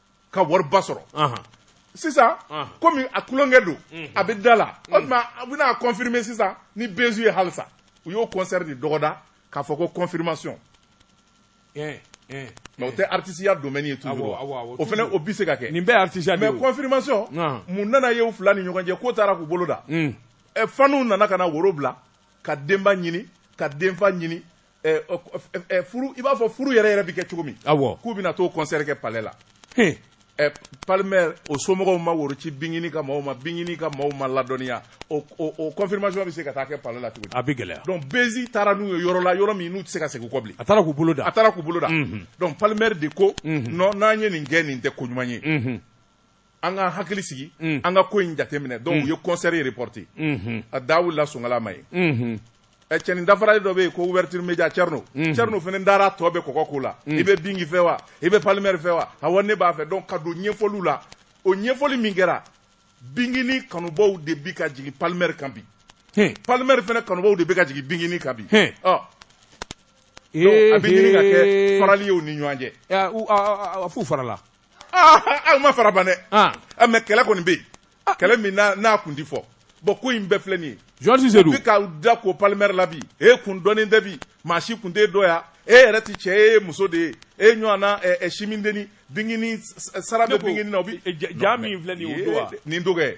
ka wariba sɔrɔ sisan komi a tulonkɛ don a bɛ da la o tuma a bɛna confirmer sisan ni bezi ye halisa u y'o kɔnsɛri de dɔgɔda k'a fɔ ko confirmation mais o tɛ artisiya domaine ye toujours o fana o bɛ se ka kɛ nin bɛɛ artisiya mais confirmation mun nana y'u fila ni ɲɔgɔn cɛ k'o taara k'u bolo da ɛ fanw nana ka na woro bila ka denba ɲini ka denfa ɲini i b'a fɔ furu yɛrɛ yɛrɛ bɛ kɛ cogo min k'u bɛna t'o kɔnsɛri kɛ palais la palmer o somɔgɔw ma woro ci bigini ka maaw ma bigini ka maaw ma ladɔnniya o confirmation bɛ se ka taa kɛ palais la cogo di a bɛ gɛlɛya donc bezi taara n'u ye yɔrɔ la yɔrɔ min n'u tɛ se ka segin kɔ bilen a taara k'u bolo da a taara k'u bolo da donc palmer de ko n'an ye nin kɛ nin tɛ ko ɲuman ye an ka hakili sigi mm. an ka ko in jateminɛ donc mm. u ye concert reporté mm-hmm. a da wulila songala ma ye mm-hmm. eh, cɛnin dafarali dɔ bɛ yen ko Ouverture Média Thierno mm-hmm. Thierno fana dara tɔ bɛ kɔkɔ ko la mm. i bɛ bingi fɛ wa i bɛ Palmer fɛ wa awɔ ne b'a fɛ donc ka don ɲɛfɔliw la o ɲɛfɔli min kɛra bingini kanubaw de bi ka jigin Palmer kan bi Palmer fana kanubaw de bɛ ka jigin bingini kan bi ɔ a bɛ ɲini ka kɛ farali ye u ni ɲɔgɔn cɛ a f'u farala u ma fara ban dɛ mais kɛlɛ kɔni bɛ yen kɛlɛ min n'a kun tɛ fɔ bon ko in bɛɛ filɛ nin ye jɔsi se bi k'a da ko Palmer la bi e kun dɔnnen tɛ bi maa si kun tɛ dɔn yan e yɛrɛ tɛ cɛ e ye muso de ye e ɲɔgɔn na simindenini bingini sara bɛ bingini na o bɛ ja min filɛ nin ye nin dɔgɔ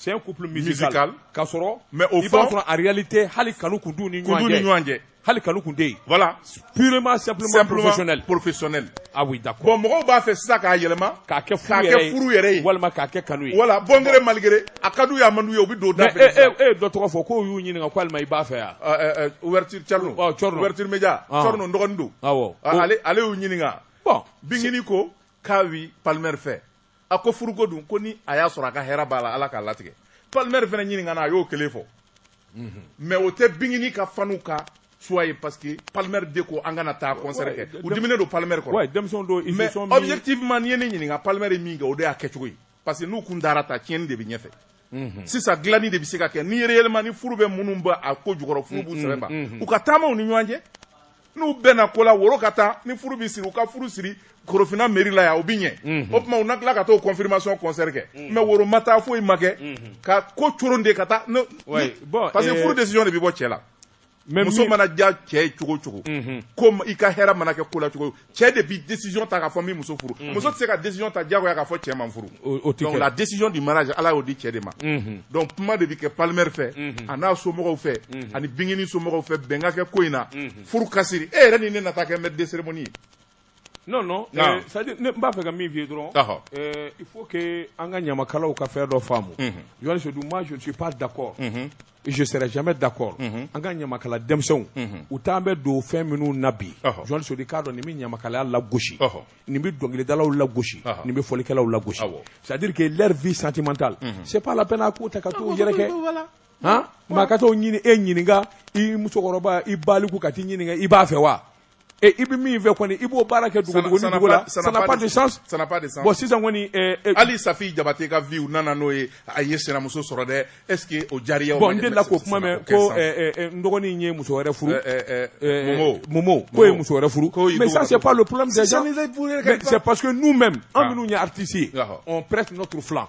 C'est un couple musical, musical. k'a sɔrɔ mais au i b'a fond- sɔrɔ en réalité hali kanu kun t'u ni Kun t'u ɲɔgɔn ni ɲɔgɔn cɛ cɛ. hali kanu kun tɛ yen Voilà. purement simplement, Simplement professionnel professionnel. ah oui d'accord Bon, mɔgɔw b'a fɛ sisan k'a yɛlɛma. k'a kɛ k'a furu kɛ yɛrɛ furu yɛrɛ ye. ye walima k'a kɛ kanu ye Voilà, bon gré mal gré, a ka d'u ye, a man d'u ye, u bɛ don da mais fɛ e sisan. e e ye dɔ tɔgɔ fɔ k'o y'u ɲininka ko alima i b'a fɛ yan Ɛ, ɛ, ɛ, Ouverture Thierno. Ɔ, Thierno. Ouverture Média. Ah. Thierno, n dɔgɔnin don. awɔ Ah, ale- ale y'u ɲininka. bon Bingini ko, k'a bi Palmer fɛ a ko furuko dun ko ni a y'a sɔrɔ a ka hɛrɛ b'a la ala k'a latigɛ Palmer fana ɲininkana a y'o kelen fɔ mhm. mais o tɛ bingini ka fanw ka choix ye parce que Palmer de ko an kana taa concert kɛ u diminen don Palmer kɔrɔ mais objectivement n'i ye ne ɲininka Palmer ye min kɛ o de y'a kɛcogo ye parce que n'u kun dara ta tiɲɛni de bɛ ɲɛfɛ mhm. sisan dilanni de bɛ se ka kɛ ni réellement ni furu bɛ minnu bɛ a ko jukɔrɔ furu b'u mhm, sɛbɛ ban mhm. u ka taama u ni ɲɔgɔn cɛ n'u bɛnna ko la woro ka taa ni furu bɛ siri u ka furu siri korofina mairie la yan o bɛ ɲɛ o tuma u na tila ka t'o confirmation concert kɛ mais woro ma taa foyi ma kɛ ka ko coron de ka taa parce que eh, furu décision de bɛ bɔ cɛ la mais muso mana diya cɛ ye cogo o cogo ko i ka hɛrɛ mana kɛ ko la cogo cɛ de bi décision ta k'a fɔ n bi muso furu muso tɛ se ka décision ta diyagoya k'a fɔ cɛ ma n furu donc la décision du mariage ala y'o di cɛ de ma donc kuma de bi kɛ Palmer fɛ a n'a somɔgɔw fɛ ani bingini somɔgɔw fɛ bɛn ka kɛ ko in na furu ka siri e yɛrɛ ni ne na taa kɛ maître de cérémonie ye non non Naamu. c'est à dire ne n b'a fɛ ka min f'i ye dɔrɔn Ɔhɔ. euh, il faut que an ka ɲamakalaw ka fɛn dɔ faamu Mhm. Yohane Sodu moi je ne suis pas d'accord Mhm. et je serai jamais d'accord Mhm. an ka ɲamakala denmisɛnw Mhm. u t'an bɛ don fɛn minnu na bi Ɔhɔ. Yohane Sodu k'a dɔn nin bɛ ɲamakalaya lagosi Ɔhɔ. nin bɛ dɔnkilidalaw lagosi Ɔhɔ. nin bɛ fɔlikɛlaw lagosi Awɔ. c'est à dire que leur vie sentimentale Mhm. c'est pas la peine a k'u ta ka t'u yɛrɛkɛ Voilà. han maa ka t'o ɲini e ɲininka i musokɔrɔba i baliku ka t'i ɲininka i b'a fɛ wa Et i bɛ min fɛ kɔni i b'o baara kɛ dugu ni dugu la ça n'a pas de sens ça n'a pas de sens bon sisan kɔni hali Safi Jabate ka vie u nana n'o ye a ye sinamuso sɔrɔ dɛ est ce que o diyar'a ye bon n delila k'o kuma mɛn ko n dɔgɔnin in ye muso wɛrɛ furu Momo Momo k'o ye muso wɛrɛ furu mais ça c'est pas le problème des gens c'est parce que nous même an minnu ye artistes ye on prête notre flanc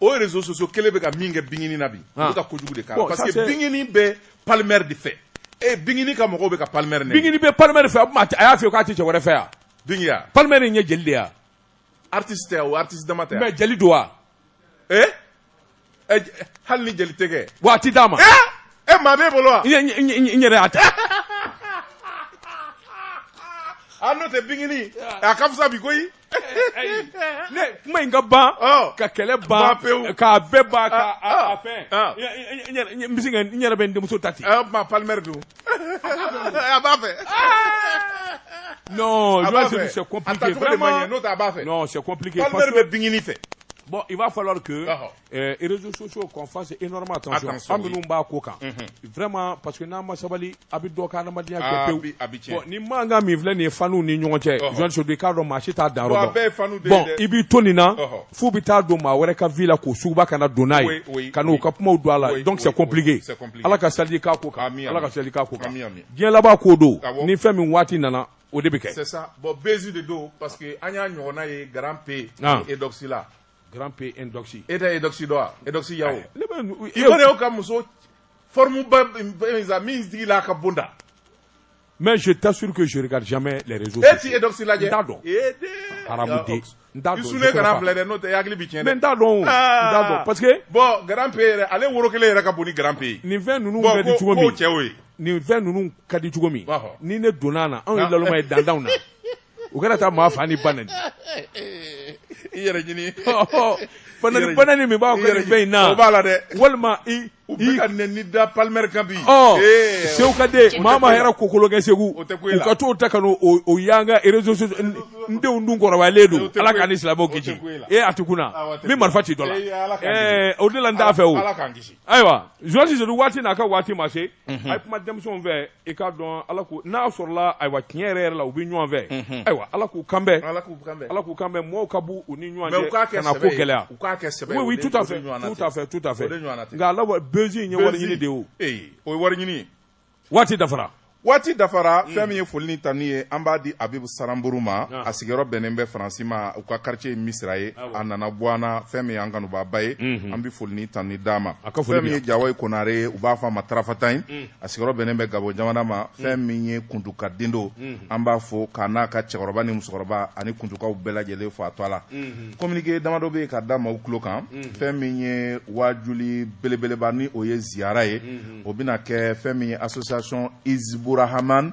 aux réseaux sociaux kelen bɛ ka min kɛ bingini na bi u bɛ ka kojugu de k'a la parce que bingini bɛ palmɛri de fɛ e bingini ka mɔgɔw bɛ ka palmɛri nɛni bingini bɛ palmɛri fɛ a y'a f'i ye k'a tɛ cɛ wɛrɛ fɛ yan bingi ya palmɛri in ye jeli de ye artiste tɛ o artiste dama tɛ mais jeli don wa ee hali ni jeli tɛ kɛ wa a tɛ d'a ma e maa b'e bolo wa n yɛrɛ y'a ta a n'o tɛ bingini a ka fisa bi koyi ne kuma in ka ban ka kɛlɛ ban k'a bɛɛ ban ka fɛn n bɛ se ka n yɛrɛ bɛ n denmuso ta di a ma palimɛri don a b'a fɛ non je pense que c'est compliqué vraiment n'o tɛ a b'a fɛ non c'est compliqué palimɛri bɛ bingini fɛ bon il va falloir que les réseaux sociaux qu'on fasse énormément attention an minnu b'a ko kan mhm. vraiment parce que n'an ma sabali a bɛ dɔ ka adamadenya kɛ ah, pewu bon ni mankan min filɛ nin ye fanw ni ɲɔgɔn cɛ jɔn sedu k'a dɔn maa si t'a dan yɔrɔ dɔn bon i b'i to nin na f'u bɛ taa don maa wɛrɛ ka vie la k'o suguba kana don n'a ye ka n'u ka kumaw don a la donc c'est compliqué ala ka sali k'a ko kan ala ka sali k'a ko kan diɲɛ laban ko don ni fɛn min waati nana o de bɛ kɛ c'est ça bon buzz de don parce que an y'a ɲɔgɔnna ye grand p ah. et Eudoxie la grand p Eudoxie e tɛ Eudoxie dɔn wa Eudoxie Yao ivoirienw ka muso forme ba min sigilan ka bon dɛ mais je t'assure que je l'ai jamais lajɛ t'a dɔn filɛ n'o tɛ hakili tiɲɛ n t'a dɔn ah. parce que bon grand p yɛrɛ ale woro kelen yɛrɛ ka bon ni grand p nin fɛn ninnu ka di cogo min cɛ ye nin fɛn ninnu ka di cogo min ni ne donna a na anw ye ah. lalma ye danw na u kana taa maa fa ni ba nɛni i yɛrɛ ɲini banani banani min b'a kɛ nin fɛn in na o b'a la dɛ walima i u bɛ ka nɛni da palimɛri kan bi sew ka den maa ma hɛrɛ kokolo kɛ segu u ka t'o ta ka o y'an ka réseau n denw dun kɔrɔbayalen don ala k'an ni silamɛw kisi ee a ti kunna n bɛ marifa ci dɔ la o de la n t'a fɛ o ayiwa zuwasi sedu waati n'a ka waati ma se a ye kuma denmisɛnw fɛ i k'a dɔn ala ko n'a sɔrɔla ayiwa tiɲɛ yɛrɛ yɛrɛ la u bɛ ɲɔgɔn fɛ mhm. ayiwa ala k'u kanbɛn ala k'u kanbɛn ala k'u kanbɛn mɔgɔw ka bɔ u ni ɲɔgɔn cɛ kan'a ko gɛlɛya u k'a kɛ sɛbɛ oui tout à fait tout à fait tout à fait nka ala buzz in ye wari ɲini de ye o ee o ye wari ɲini waati dafara waati dafara mm. fɛn min ye foli ni tanu ye an b'a di abibu saranburu ma ah. a sigiyɔrɔ bɛnnen bɛ faransi ma u ka quartier ye misira ye ah, a nana bɔ an na fɛn min ye an kanubaaba ye mhm. an bɛ foli ni tanu d'a ma fɛn min ye jawoyi konare ye u b'a fɔ a ma tarafatan ye mm. a sigiyɔrɔ bɛnnen bɛ Gabon jamana ma, mm. fɛn min ye kuntuka den don, mm-hmm. an b'a fɔ k'a n'a ka cɛkɔrɔba ni musokɔrɔba ani kuntukaw bɛɛ lajɛlen fo a to a la. Mm-hmm. Communiqué damadɔ bɛ yen ka da maaw tulo kan, mm-hmm. fɛn min ye waajuli belebeleba ni o ye ziyara ye, o bɛna kɛ fɛn min ye association Hizburahaman